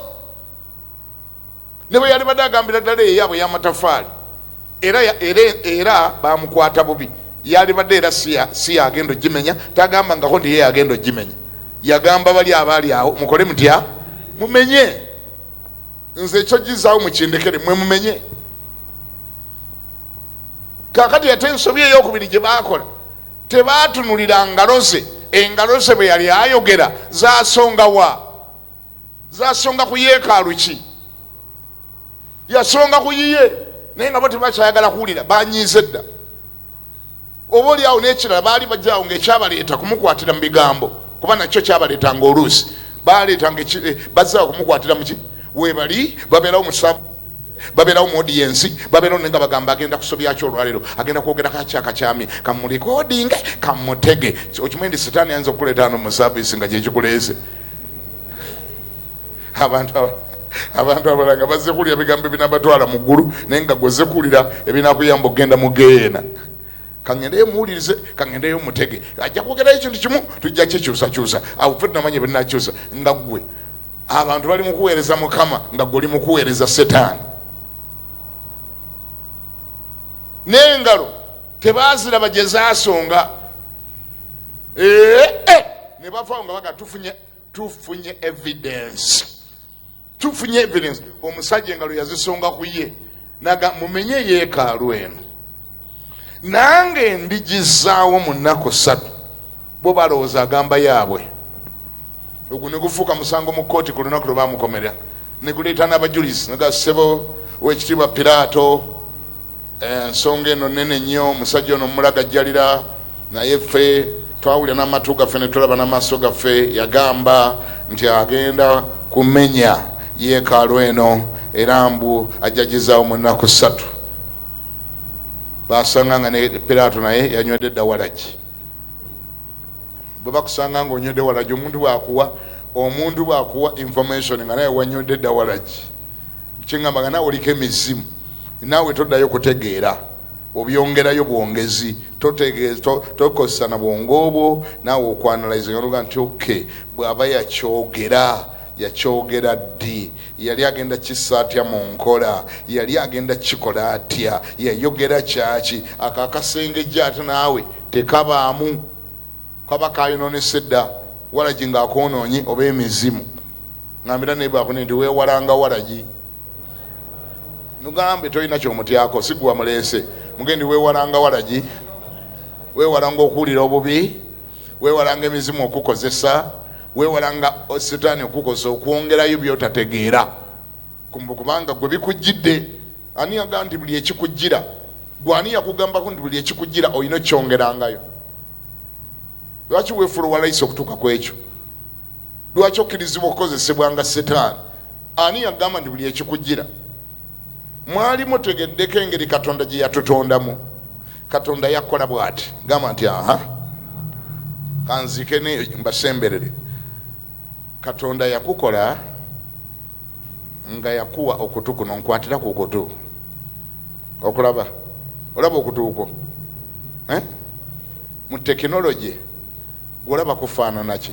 ne bwe yali badde agambira ddala eyaabwe y'amatafaali era era bamukwata bubi yalibadde era si yagenda ogimenya tagamba ngako ndiye yagenda ogimenya yagamba bali abaali awo mukole mutya mumenye nze ekyo gizaawo mukindekere mwe mumenye kakati ate ensobi eyokubiri gye bakola Tebaatunulira ngalo ze, engalo ze bwe yali ayogera zaasonga wa? Zaasonga ku yeekaalu ki? Yasonga ku yiye, naye nga bo tebakyayagala kuwulira, banyiize dda. Oba oli awo n'ekirala baali bajaawo ng'ekyabaleeta kumukwatira mu bigambo, kuba nakyo kyabaleetanga oluusi. baleetanga eh, bazza okumukwatira muki webali babeerawo musavu babeerawo mu odiyensi babeerawo naye nga bagamba agenda kusobyaki olwaleero agenda kwogera kaki akakyami kamulikodinge kamutege okimanyi nti sitaani ayinza okukuleeta ano mu saavisi nga gyekikuleeze abantu abantu abala nga bazze kuwulira bigambo ebinabatwala mu ggulu naye nga gwezze kuwulira ebinakuyamba okugenda mu geyeena kangendeyo muwulirize kangendeyo mutege ajja kwogerayo ekintu kimu tujja kyekyusakyusa awo fe tunamanya binakyusa nga gwe abantu bali mukuweereza mukama nga gwe oli mukuweereza setaani n'engalo tebaziraba gye zasonga ee eh, eh, ne bavawo nga baga tufunye tufunye evidence tufunye evidence omusajja engalo yazisonga ku ye naga mumenye yeekaalu eno nange ndigizaawo mu nnaku ssatu bo balowooza agamba yaabwe ogwo ne gufuuka musango mu kkooti ku lunaku lwe bamukomera ne guleeta n'abajulizi naga ssebo wekitiibwa piraato ensonga eno nene nnyo omusajja ono mumulagajjalira naye ffe twawulira n'amatu gaffe ne tulaba n'amaaso gaffe yagamba nti agenda kumenya yeekaalu eno era mbu ajjagizaawo mu nnaku ssatu basanga nga ne piraato naye yanywedde dda walagi bwe bakusanga nga onywedde walagi omuntu bwakuwa omuntu bwakuwa information nga naye wanywedde dda walagi kyengamba nga nawe oliko emizimu naawe toddayo kutegeera obyongerayo bwongezi tokozesa na bwongo obwo naawe okwanalize oluga nti oke bw'aba yakyogera yakyogera ddi yali agenda kissa atya mu nkola yali agenda kikola atya yayogera kyaki ako akasengejja ate naawe tekabaamu kaba kayononese dda walagi ng'akoonoonye oba emizimu ngambira naye bakune nti weewalanga walagi nugambe tolina kyomutyako siguwa muleese mugendi wewalanga walagi wewalanga okuwulira obubi wewalanga emizimu okukozesa wewalanga sitaani okukozesa okwongerayo byotategeera kubanga gwe bikujjidde ani yaga nti buli ekikujjira gwe ani yakugambako nti buli ekikujjira olina okyongerangayo lwaki wefula owalaisa okutuuka ku ekyo lwaki okkirizibwa okukozesebwa nga sitaani Ani yagamba nti buli ekikujira mwali mutegeddeko engeri katonda gye yatutondamu katonda yakola bwati gamba nti aha kanzike neyo mbasemberere katonda yakukola nga yakuwa okutu kuno nkwatira ku kutu okulaba olaba okutuuko eh? mu tekinologi gwolaba kufaananaki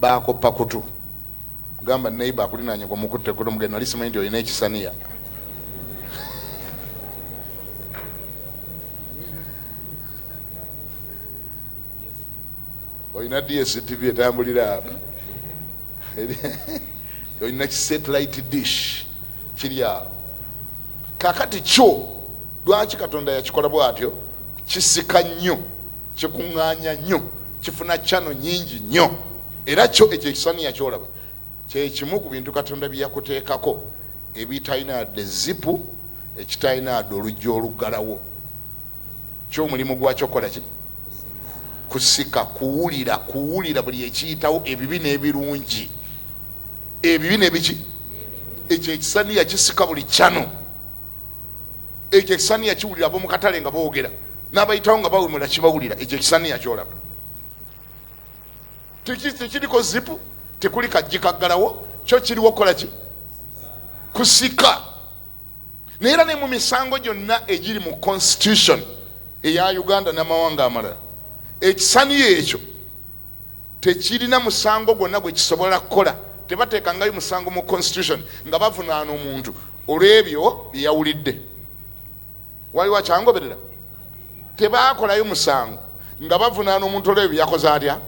bakoppa kutu gamba neighbor akulinanye gwe mukutte kutu mugende nali simanyi nti olina ekisaniya olina dstv etambulira olina kisatelite dish kiri awo kakati kyo lwaki katonda yakikola bwatyo kisika nnyo kikuŋŋaanya nnyo kifuna cano nyingi nnyo era kyo ekyo ekisaniya kyolaba kyekimu ku bintu katonda bye yakuteekako ebitalina yadde zipu ekitalina yadde oluggi oluggalawo kyomulimu gwakyo kukola ki kusika kuwulira kuwulira buli ekiyitawo ebibi n'ebirungi ebibi nebiki ekyo ekisaniya kisika buli cano ekyo ekisaniya kiwulira abomukatale nga bogera nabayitawo nga bawemula kibawulira ekyo ekisaniya kyolaba tekiriko zipu tekuli kajjikaggalawo kyo kiriwo okukola ki kusika naye era ne mu misango gyonna egiri mu constitution eya uganda n'amawanga amalala ekisaniya ekyo tekirina musango gwonna gwe kisobola kukola tebateekangayo musango mu constitution nga bavunaana omuntu olw'ebyo bye yawulidde waliwo akyangoberera tebaakolayo musango nga bavunaana omuntu olwebyo yakoze atya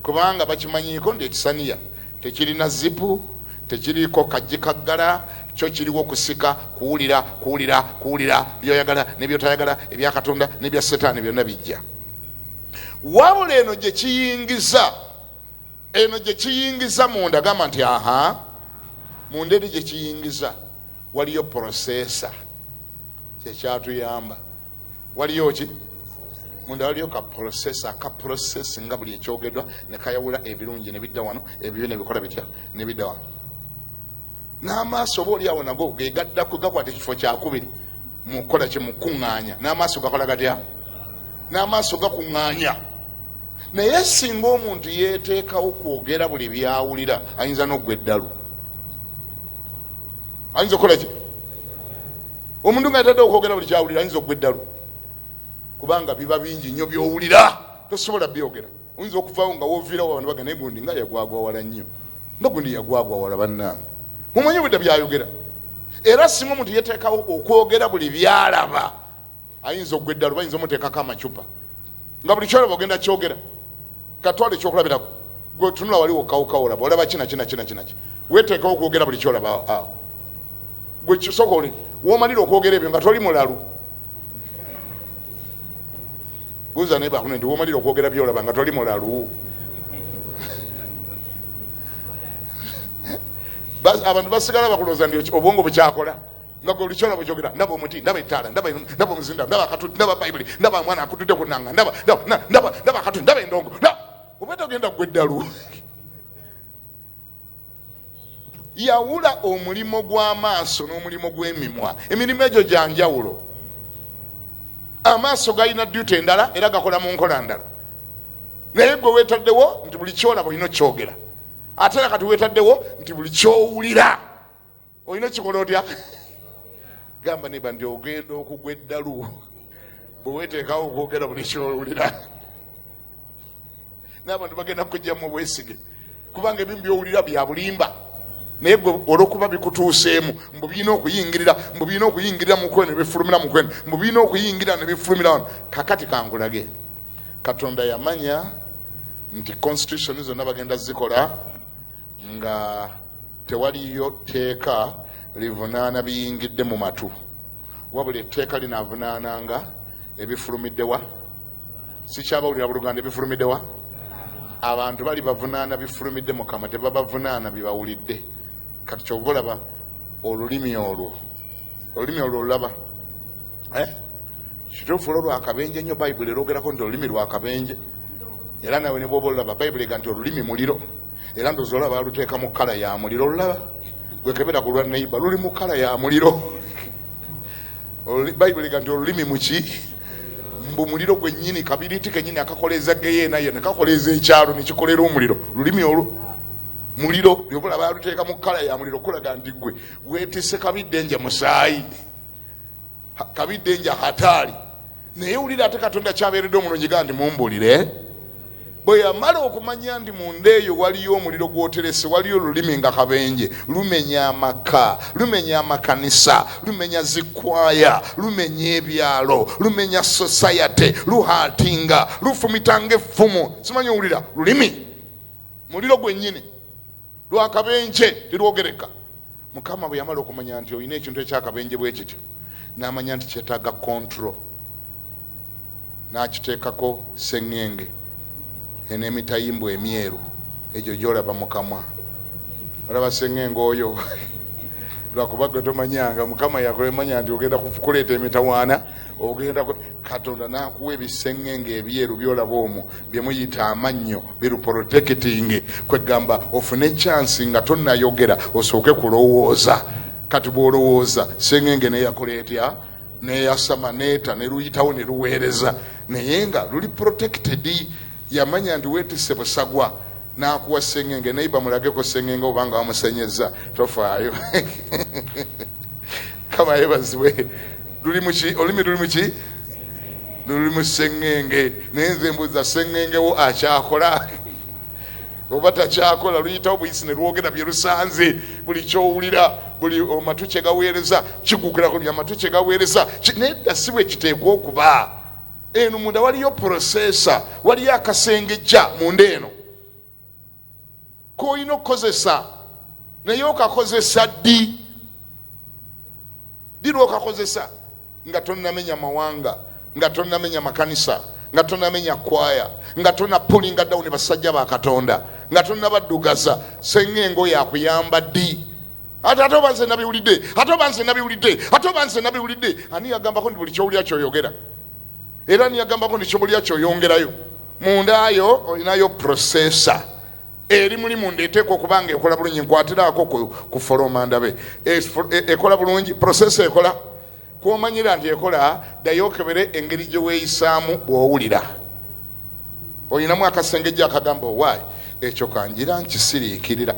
kubanga bakimanyiiko nti ekisaniya tekirina zipu tekiriiko kajji kaggala kyo kiriwo kusika kuwulira kuwulira kuwulira byoyagala nebyotayagala ebya katonda nebya setaani byonna bijja wabula eno gye kiyingiza eno gye kiyingiza munda gamba nti aha munda eri gye kiyingiza waliyo porosesa kyekyatuyamba waliyo ki munda waliyo ka porosesa ka porosesi nga buli ekyogedwa nekayawula ebirungi nebidda wano ebibi nebikola bitya nebidda wano n'amaaso oba oli awo nago gegaddako gakwata ekifo kyakubiri mukukola kye mukuŋŋaanya n'amaaso gakola gatya n'amaaso gakuŋŋaanya naye singa omuntu yeeteekawo kwogera buli byawulira ayinza n'oggwa eddalu ayinza okukola ki omuntu nga yatadde okwogera buli kyawulira ayinza oggwa eddalu kubanga biba bingi nnyo byowulira tosobola byogera oyinza okuvawo nga woviirawo abantu baga naye gundi nga yagwagwawala nnyo nga gundi yagwagwawala bannange mumanyi obudda byayogera era singa omuntu yeteekawo okwogera buli byalaba ayinza okugwa eddalu bayinza omuteekako amacupa nga buli kyolaba ogenda kyogera katwala ekyokulabirako gwe otunula wali wokawuka olaba olaba kinakinakinakinakinaki weteekawo okwogera buli kyolaba awo gwe kisoko oli womalira okwogera ebyo nga toli mulalu buuza naye bakune nti womalira okwogera byolaba nga toli mulalu abantu basigala bakulooza nti obwongo bukyakola nga gwe bulikyona bwejogera ndaba omuti ndaba ettaala ndaba ndaba omuzinda ndaba akatuli ndaba bayibuli ndaba mwana akutudde ku nanga ndaba ndaba ndaba akatuli ndaba endongo oba togenda gwe eddalu yawula omulimu gw'amaaso n'omulimu gw'emimwa emirimu egyo gya njawulo amaaso galina duty endala era gakola mu nkola ndala naye gwe weetaddewo nti buli kyolaba olina okyogera ate era kati weetaddewo nti buli kyowulira olina kikola otya gamba neba nti ogenda okugwa eddalu bweweteekawo okwogera buli kyowulira n'abantu bagenda kujjamu obwesige kubanga ebimu byowulira byabulimba naye gwe olwokuba bikutuuseemu mbu birina okuyingirira mbu birina okuyingirira mukweno nebifulumira mukweno mbu birina okuyingirira nebifulumira wano kakati kangulage katonda yamanya nti constitution zonna bagenda zikola nga tewaliyo tteeka livunaana biyingidde mu matu wabula etteeka linaavunaananga ebifulumiddewa sikyabawulira buluganda ebifulumiddewa abantu bali bavunaana bifulumidde mukama tebabavunaana bibawulidde kati kyova olaba olulimi olwo olulimi olwo olulaba eh? kituufu olwo lwakabenje nnyo bayibuli erogerako nti olulimi lwakabenje era nawe ne bwoba olulaba bayibuli ega nti olulimi muliro era ndozi olaba baluteeka mu kkala ya muliro olulaba gwekebera ku lwa neiba luli mu kkala ya muliro bayibuli ega nti olulimi muki mbu muliro gwennyini kabiriti kennyini akakoleeza geyeena yena kakoleeza ekyalo nekikolera omuliro lulimi olwo muliro yobula baluteeka mu kkala ya muliro kulaga nti gwe wetise kabiddenja musaayi kabiddenja hataali naye wulira ate katonda kyabeeredde omulungi ga ndi mumbulire bwe yamala okumanya ndi munda eyo waliyo omuliro gwoterese waliyo olulimi nga kabenje lumenya amaka lumenya amakanisa lumenya zikwaya lumenya ebyalo lumenya sosayate luhatinga lufumitanga effumu simanyi owulira lulimi muliro gwennyini lw'akabenje terwogereka. Mukama bwe yamala okumanya nti olina ekintu eky'akabenje bwe kityo, n'amanya nti kyetaaga kontro, n'akiteekako sseŋŋenge en'emitayimbwa emyeru egyo gy'olaba mu kamwa. Olaba sseŋŋenge oyo? Lwakuba gwe tomanyanga. Mukama yakulemanya nti ogenda kuleeta emitawaana, ogenda. katonda nakuwa ebisengenge ebyeru byolaba omwo byemuyita amannyo biruprotekitinge kwegamba ofune chansi nga tonayogera osooke kulowooza kati bwolowooza sengenge neyakola etya neyasama neta neluyitawo neluweereza naye nga luli protected yamanya nti wetise busagwa nakuwa sengenge naye bamulageko sengenge obanga wamusenyeza tofaayo kama yebazibwe luli muki olulimi luli muki luli mu seŋŋenge naye nze mbuza seŋŋengewo akyakola oba takyakola luyitawo buyisi ne lwogera bye lusanze buli kyowulira buli omatu kye gaweereza kigukirako bya matu kye gaweereza nedda si bwe kiteekwa okuba eno munda waliyo prosesa waliyo akasengejja munda eno koolina okukozesa naye okakozesa ddi ddi lwokakozesa nga tonamenya mawanga nga tonamenya makanisa nga tonamenya kwaya nga tonapulinga dawuni basajja ba katonda nga tonabadugaza senga engo yakuyamba ddi ate ate oba nze nabiwulidde ate oba nze nabiwulidde ate oba nze nabiwulidde ani yagambako nti buli kyowulira kyoyogera era ani yagambako nti kyobulira kyoyongerayo mundaayo olinayo processor eri mulimu ndeteeka okuba nga ekola bulungi nkwatiraako ku foloma ndabe e, e, ekola bulungi processor ekola kwomanyira nti ekola dayo okebere engeri gye weeyisaamu bw'owulira olinamu akasengejja akagamba owaayi Ekyo ka ngira nkisiriikirira,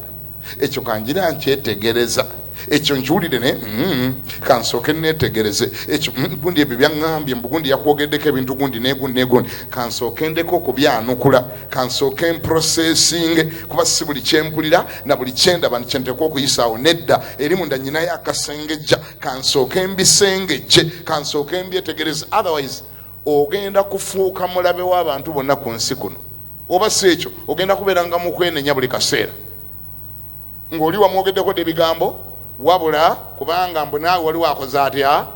ekyo ka ngira nkyetegereza, ekyo nkiwulire naye mm, ka nsooke nneetegereze ekyo mm, gundi ebyo byaŋŋambye mbu gundi yakwogeddeko ebintu gundi negundi negundi ka nsooke ndeko okubyanukula ka nsooke mprosesinge kuba si buli kye mpulira na buli kye ndaba nti kye nteekwa okuyisaawo nedda eri munda nyinayo akasengejja ka nsooke mbisengejje ka nsooke mbyetegereze otherwise ogenda kufuuka mulabe w'abantu bonna ku nsi kuno Oba si ekyo ogenda kubeeranga mu kwenenya buli kaseera ng'oli wamwogeddeko dda ebigambo wabula kubanga mbu naawe waliwo akoze atya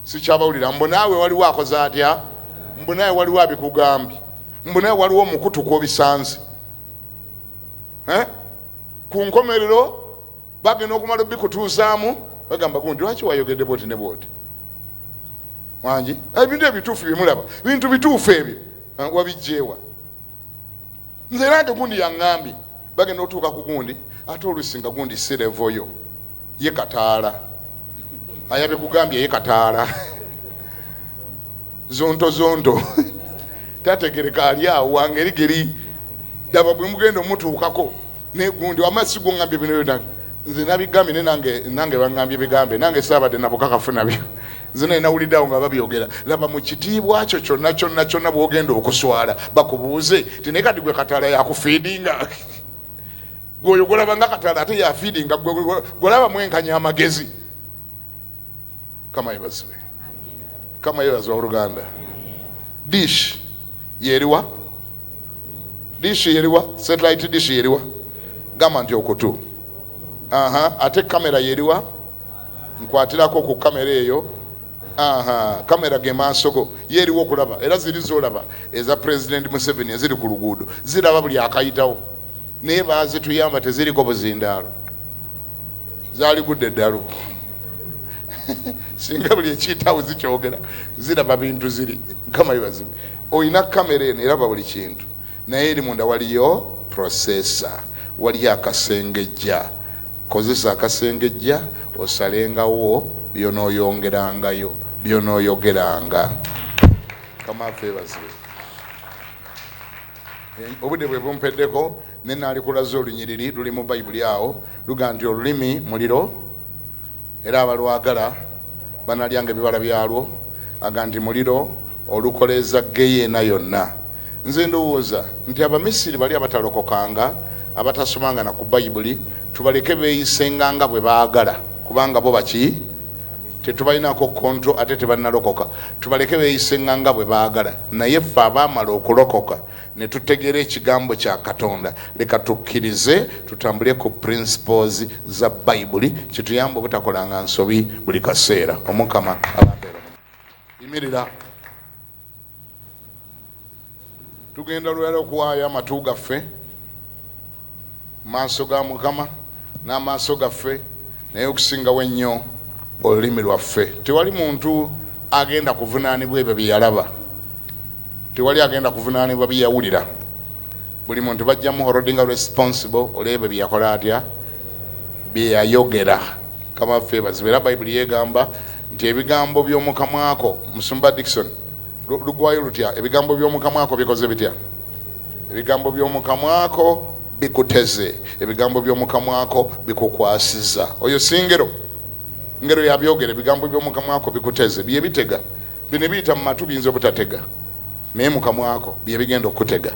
sikyabawulira mbu naawe waliwo akoze atya mbu naawe waliwo abikugambye mbu naawe waliwo omukutu kwobisanze eh? ku nkomerero bagenda okumala obikutuuzaamu bagamba gundi lwaki wayogedde bwoti ne bwoti wangi ebintu ebituufu byemulaba bintu bituufu ebyo wabijjeewa nze era nti gundi yaŋŋambye bagenda otuuka ku gundi ate oluusi nga gundi sirevoyo ye kataala ayabe kugambye ye kataala zonto zonto tategereka ali awo wangeri geri daba bwe mugenda omutuukako negundi wama siguŋambye bino byona nze nabigambye ne nange nange baŋambye bigambe nange saabadde nabukakafu nabyo nze naye nawulidde awo nga babyogera laba mu kitiibwa kyo kyonna kyonna kyonna bwogenda okuswala bakubuuze ti naye kati gwe kataala yakufiidinga gwoyo golabanga kataala ate yafiidinga golaba mwenkanya amagezi kamayebazibe kamayebazi waoluganda dish yeriwa dish yeriwa satellite dish yeriwa gamba nti okutu ate kamera yeriwa nkwatirako ku kamera eyo aha kamera ge maaso go ye eriwo okulaba era ziri zolaba eza pulezidenti museveni eziri ku luguudo ziraba buli akayitawo naye bazituyamba teziriko buzindaalo zaligudde eddalu singa buli ekiyitawo zikyogera ziraba bintu ziri nkama bibazibu olina kamera eno eraba buli kintu naye eri munda waliyo processor waliyo akasengejja Kozesa akasengejja osalengawo by'onooyongerangayo, by'onooyogeranga. Mukama waffe yeebazibwe. Obudde bwe bumpeddeko ne naalikulaze olunyiriri luli mu Bayibuli awo luga nti olulimi muliro. Era abalwagala banalyanga ebibala byalwo, aga nti muliro olukoleeza ggeyeena yonna. Nze ndowooza nti Abamisiri bali abatalokokanga, abatasomanga na ku Bayibuli, tubaleke beeyisenga nga bwe baagala, kubanga bo baki? Tetubalinaako kontro ate tebannalokoka. Tubaleke beeyisenga nga bwe baagala, naye ffe abaamala okulokoka, ne tutegeera ekigambo kya katonda leka tukkirize tutambule ku principles za bayibuli kituyamba obutakolanga nsobi buli kaseera omukama abambeera yimirira tugenda lwera okuwaayo amatu gaffe mu maaso ga Mukama n'amaaso gaffe, naye okusingawo ennyo olulimi lwaffe. Tewali muntu agenda kuvunaanibwa ebyo bye yalaba, tewali agenda kuvunaanibwa bye yawulira. Buli muntu bajja muhorodinga responsible olw'ebyo bye yakola atya, bye yayogera. Mukama waffe yeebazibwe. Era Bayibuli yeegamba nti ebigambo by'omu kamwa ko, Musumba Dickson, lu- lugwayo lutya? Ebigambo by'omu kamwa ko bikoze bitya? Ebigambo by'omu kamwa ko bikuteze, ebigambo by'omu kamwa ko bikukwasiza. Oyo si ngero, ngero yabyogera. Ebigambo by'omu kamwa ko bikuteze, bye bitega. Bino ebiyita mu matu biyinza obutatega, naye mu kamwa ko bye bigenda okukutega.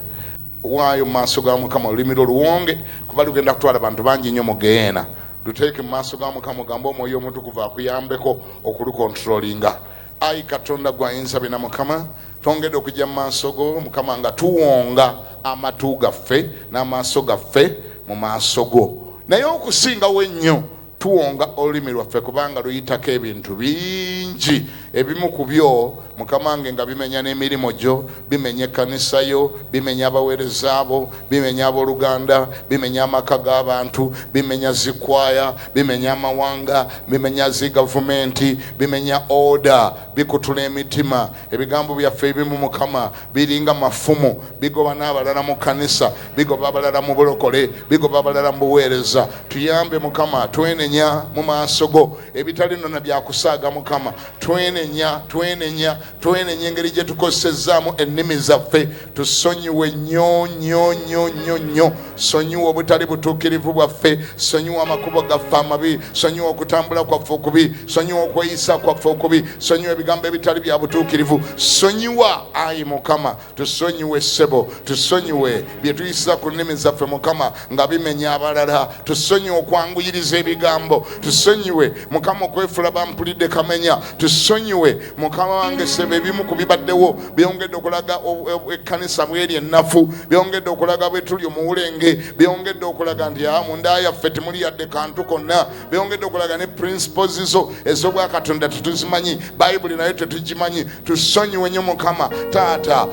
Waayo mu maaso ga Mukama olulimi lwo luwonge, kuba lugenda kutwala bantu bangi nnyo mu geyeena. Luteeke mu maaso ga Mukama, ogambe Omwoyo Omutukuvu akuyambeko okulukontrolinga. Ayi Katonda gwe ayinza byona Mukama twongede okujja mu maaso go Mukama nga tuwonga amatu gaffe n'amaaso gaffe mu maaso go naye okusingawo ennyo tuwonga olulimi lwaffe kubanga luyitako ebintu bingi ebimu ku byo mukamange nga bimenya n'emirimu gyo bimenya ekkanisa yo bimenya abaweereza abo bimenya abooluganda bimenya amaka g'abantu bimenya zikwaya bimenya amawanga bimenya zi gavumenti bimenya oda bikutula emitima ebigambo byaffe ebimu mukama biringa mafumu bigoba n'abalala mu kkanisa bigoba abalala mu bulokole bigoba abalala mu buweereza tuyambe mukama twenenya mu maaso go ebitali nona byakusaaga mukama twenenya twenenya twenenye engeri gye tukozesezzaamu ennimi zaffe tusonyiwe nnyo nnyo nnyo nnyo nnyo sonyiwa obutali butuukirivu bwaffe sonyiwa amakubo gaffe amabi sonyiwa okutambula kwaffe okubi sonyiwa okweyisa kwaffe okubi sonyiwa ebigambo ebitali bya butuukirivu sonyiwa ayi mukama tusonyiwe ssebo tusonyiwe bye tuyisiza ku nnimi zaffe mukama nga bimenya abalala tusonyiwe okwanguyiriza ebigambo tusonyiwe mukama okwefula bampulidde kamenya tusonyiwe mukama wange ssebo ebimu ku bibaddewo byongedde okulaga ekkanisa bweri ennafu byongedde okulaga bwe tuli omuwulenge byongedde okulaga nti a ah, munda yaffe temuli yadde kantu konna byongedde okulaga ne principles zo ez'obwakatonda tetuzimanyi bayibuli nayo tetugimanyi tusonyiwe nyo mukama taata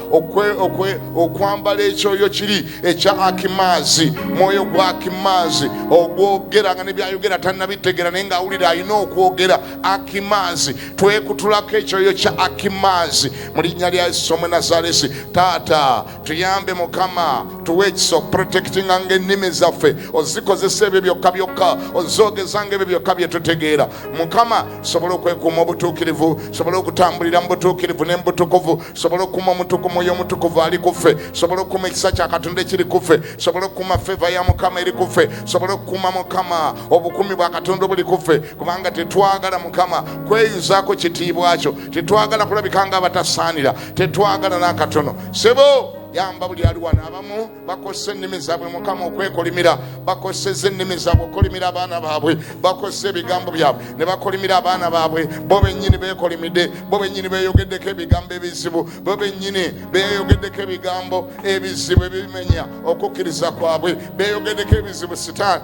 okwambala ekyoyo kiri ekya akimaazi mwoyo gwa akimaazi ogwogera nga nebyayogera tanabitegera naye ngaawulira alina okwogera akimaazi twekutulako ekyoyo kya akimaazi mu linnya lya yesu omunazaresi taata tuyambe mukama tuwe ekisa okuprotektinga nga ennimi zaffe ozikozesa ebyo byokka byokka ozogeza nga ebyo byokka byetutegeera mukama sobola okwekuuma obutuukirivu sobola okutambulira mu butuukirivu ne mubutukuvu sobola okukuuma omutuku mwoyo omutukuvu ali kuffe sobola okukuuma ekisa kya katonda ekiri kuffe sobola okukuuma feva ya mukama eri kuffe sobola okukuuma mukama obukumi bwa katonda obuli kuffe kubanga tetwagala mukama kweyuzaako kitiibwa kyo tetwagala kulabika nga abatasaanira tetwagala n'akatono sebo yamba buli ali wano abamu bakozesa ennimi zaabwe mukama okwekolimira bakozeseza ennimi zaabwe okolimira abaana baabwe bakozesa ebigambo byabwe ne bakolimira abaana baabwe bo bennyini beekolimidde bo bennyini beeyogeddeko ebigambo ebizibu bo bennyini beeyogeddeko ebigambo ebizibu ebibimenya okukkiriza kwabwe beeyogeddeko ebizibu sitaani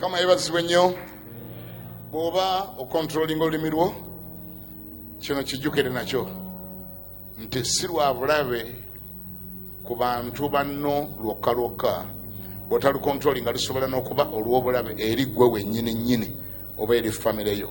kama yebazibwe nnyo bwoba okontrolinga olulimi lwo kino kijjukire nakyo nti si lwa bulabe ku bantu banno lwokka lwokka bwotalukontrolinga lusobola n'okuba olw'obulabe eri ggwe wennyini nnyini oba eri famireyo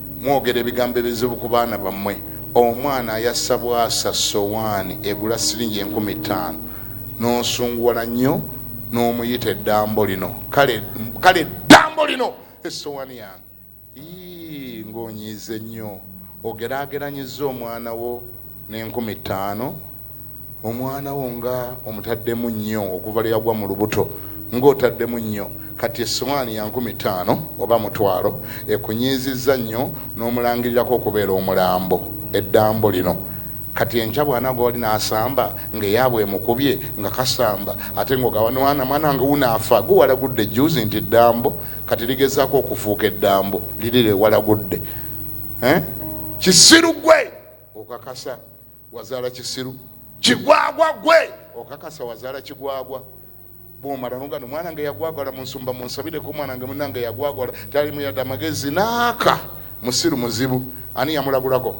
Mwogera ebigambo ebizibu ku baana bammwe. Omwana ayasa bwasa ssowaani egula siringi enkumi ttaano n'osunguwala nnyo n'omuyita eddambo lino. Kale kale eddambo lino essowaani yange! Yii ng'onyiize nnyo! Ogeraageranyizza omwana wo n'enkumi ttaano omwana wo nga omutaddemu nnyo okuva lwe yagwa mu lubuto ng'otaddemu nnyo kati essowaani ya nkumi ttaano oba mutwalo ekunyiizizza nnyo n'omulangirirako okubeera omulambo eddambo lino kati enkya bwanagwa wali n'asamba ng'eyaabwe emukubye nga kasamba ate ng'ogawanwana mwana nga wunaafa gwe walagudde juuzi nti eddambo kati ligezaako okufuuka eddambo liri lye walagudde eh? kisiru gwe okakasa Wazaala kisiru kigwagwa gwe okakasa wazaala kigwagwa bwomala nogano mwana nga yagwagwala munsumba munsabireko omwana nga munanga yagwagwala talimu yadde amagezi naaka musiru muzibu ani yamulagulako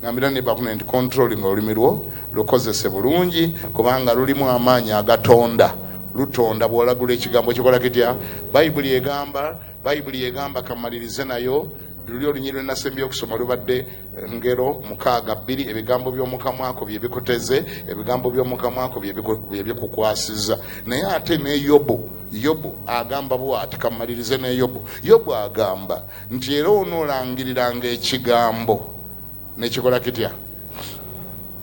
ngambira nebakuna nti controlling olulimi lwo lukozese bulungi kubanga lulimu amaanyi agatonda lutonda bwolagula ekigambo kikola kitya bayibuli egamba bayibuli egamba kamalirize nayo luli olunyiri lwenasembye okusoma lubadde ngero mukaaga bbiri ebigambo by'omukamwako bye bikuteze ebigambo by'omukamwako bye bikukwasiza naye ate ne yobu yobu agamba bwati kamalirize ne yobu yobu agamba nti era onoolangiriranga ekigambo nekikola kitya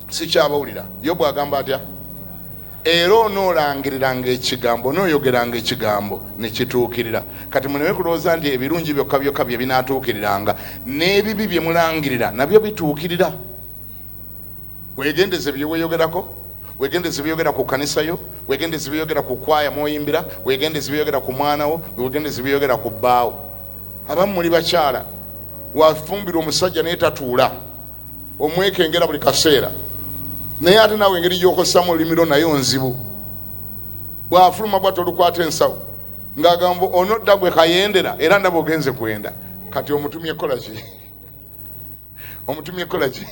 sikyabawulira yobu agamba atya Era onoolangiriranga ekigambo, onooyogeranga ekigambo, ne kituukirira. Kati muleme kulowooza nti ebirungi byokka byokka bye binaatuukiriranga, n'ebibi bye mulangirira nabyo bituukirira. Weegendeze bye weeyogerako, weegendeze bye weeyogera ku kkanisa yo, weegendeze bye weeyogera ku kwaya mw'oyimbira, weegendeze bye weeyogera ku mwana wo, weegendeze bye weeyogera ku bbaawo. Abamu muli bakyala, wafumbirwa omusajja naye tatuula. omwekengera buli kaseera naye ate nawe engeri gyokosamu olulimi lwo naye onzibu bwafuluma bwati olukwata ensawo ngaagamba onodda gwe kayendera era ndaba ogenze kwenda kati omutumye kolaki omutumye kolaki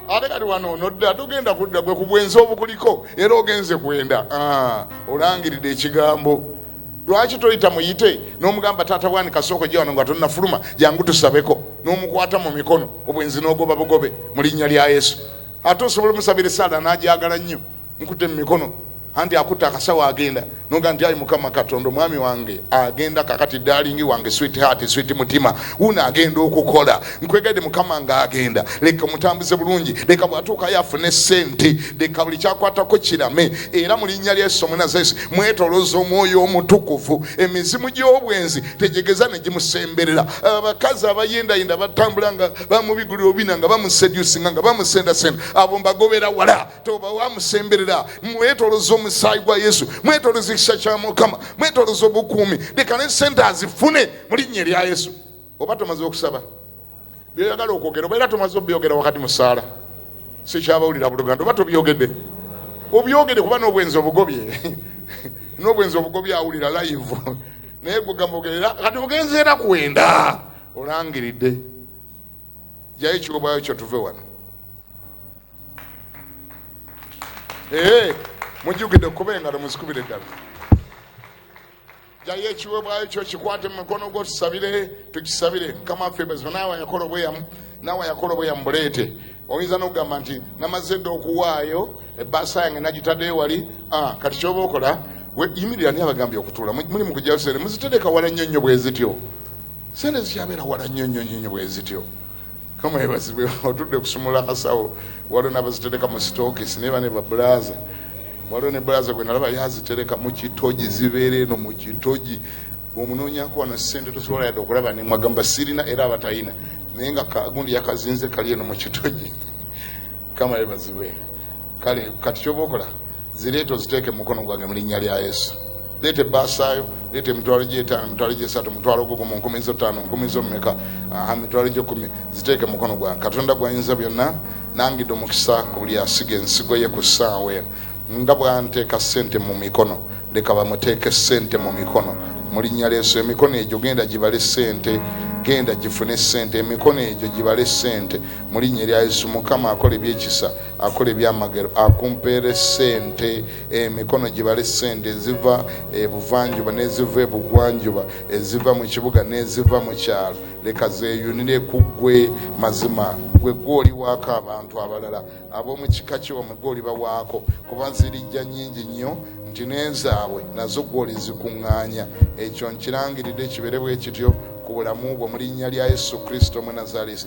ate kati wano onodda togenda kudda gwe kubwenzi obukuliko era ogenze kwenda ah, olangiridde ekigambo lwaki toyita muyite nomugamba taata bwani kasooka ojja wano nga tonafuluma jangu tusabeko nomukwata mu mikono obwenzi nogoba bugobe mu linnya lya yesu ate osobola omusabira esaala najagala nnyo nkute mu mikono anti akutte akasawo agenda noga nti ayi mukama katonda omwami wange agenda kakati dalingi wange swit heart swit mutima wuno agenda okukola nkwegadde mukama ng'agenda leka mutambuze bulungi leka bwatuukayo afune sente leka buli kyakwatako kirame era mu linnya lya yesu omunazesi mwetoloza omwoyo omutukuvu emizimu gy'obwenzi tegyegeza ne gimusemberera abakazi abayendayenda batambula nga bamubigulira obina nga bamusedusinga nga bamusendasenda abo mbagobera wala toba wamusemberera mwetoloza omusaayi gwa yesu mwetoloza ekisa kya mukama mwetoloza obukuumi leka ne sente azifune mu linnya erya yesu oba tomaze okusaba byoyagala okwogera oba era tomaze obyogera wakati mu ssaala sikyabawulira buluganda oba tobyogedde obyogede kuba n'obwenzi obugobye n'obwenzi obugobye awulira layivu naye gugamugerera kati ogenze era kwenda olangiridde jayo ekigobayo kyo tuve wano ee mujjukidde okuba engalo muzikubire ddala jayo ekiweebwayo kyo kikwate mu mukono gwo tusabire tukisabire mukama waffe bwezima naawe yakola obweyamu naawe yakola obweyamu buleete oyinza n'okugamba nti namaze dda okuwaayo ebbaasa yange nagitadde ewali ah, kati kyoba okola yimirira ni abagambye okutuula muli mu kujjayo sente muzitereka wala nnyo nnyo bwezityo sente zikyabeera wala nnyo nnyo nnyo bwezityo kama yebazibwe otudde kusumula kasawo waliwo nabazitereka mu sitokisi naye bane babulaza waliwo ne bulaza gwe nalaba yazitereka mu kitogi zibeera eno mu kitogi omunoonyako wano sente tosobola yadde okulaba nemwagamba sirina era abatayina naye nga kagundi yakazinze kali eno mu kitogi kama yebazibwe kale kati kyoba okola zireeta oziteeke mukono gwange mu linnya lya yesu leeta ebbaasaayo leeta emitwalo gyetaano emitwalo gyesatu omutwalo gugu mu nkumi zo ttaano nkumi zo mumeka aha mitwalo gyekumi ziteeke mukono gwange katonda gwayinza byonna nangidde omukisa ku buli asiga ensigo ye ku ssaawa eno nga bwanteeka ssente mu mikono leka bamuteeke ssente mu mikono mu linnya lyesu emikono egyo genda gibale ssente genda gifune ssente emikono egyo gibale ssente mu linnya erya yesu mukama akola ebyekisa Akola ebyamagero akumpeere ssente, emikono gibale ssente eziva ebuvanjuba n'eziva ebugwanjuba, eziva mu kibuga n'eziva mu kyalo, leka zeeyunire ku ggwe. Mazima ggwe ggwe oliwaako abantu abalala ab'omu kika kyo, bamwe ggwe olibawaako, kuba zirijja nnyingi nnyo nti n'ezaabwe nazo ggwe olizikuŋŋaanya. Ekyo nkirangiridde kibeere bwe kityo ku bulamu bwo mu linnya lya Yesu Kristo Omunazaalesi.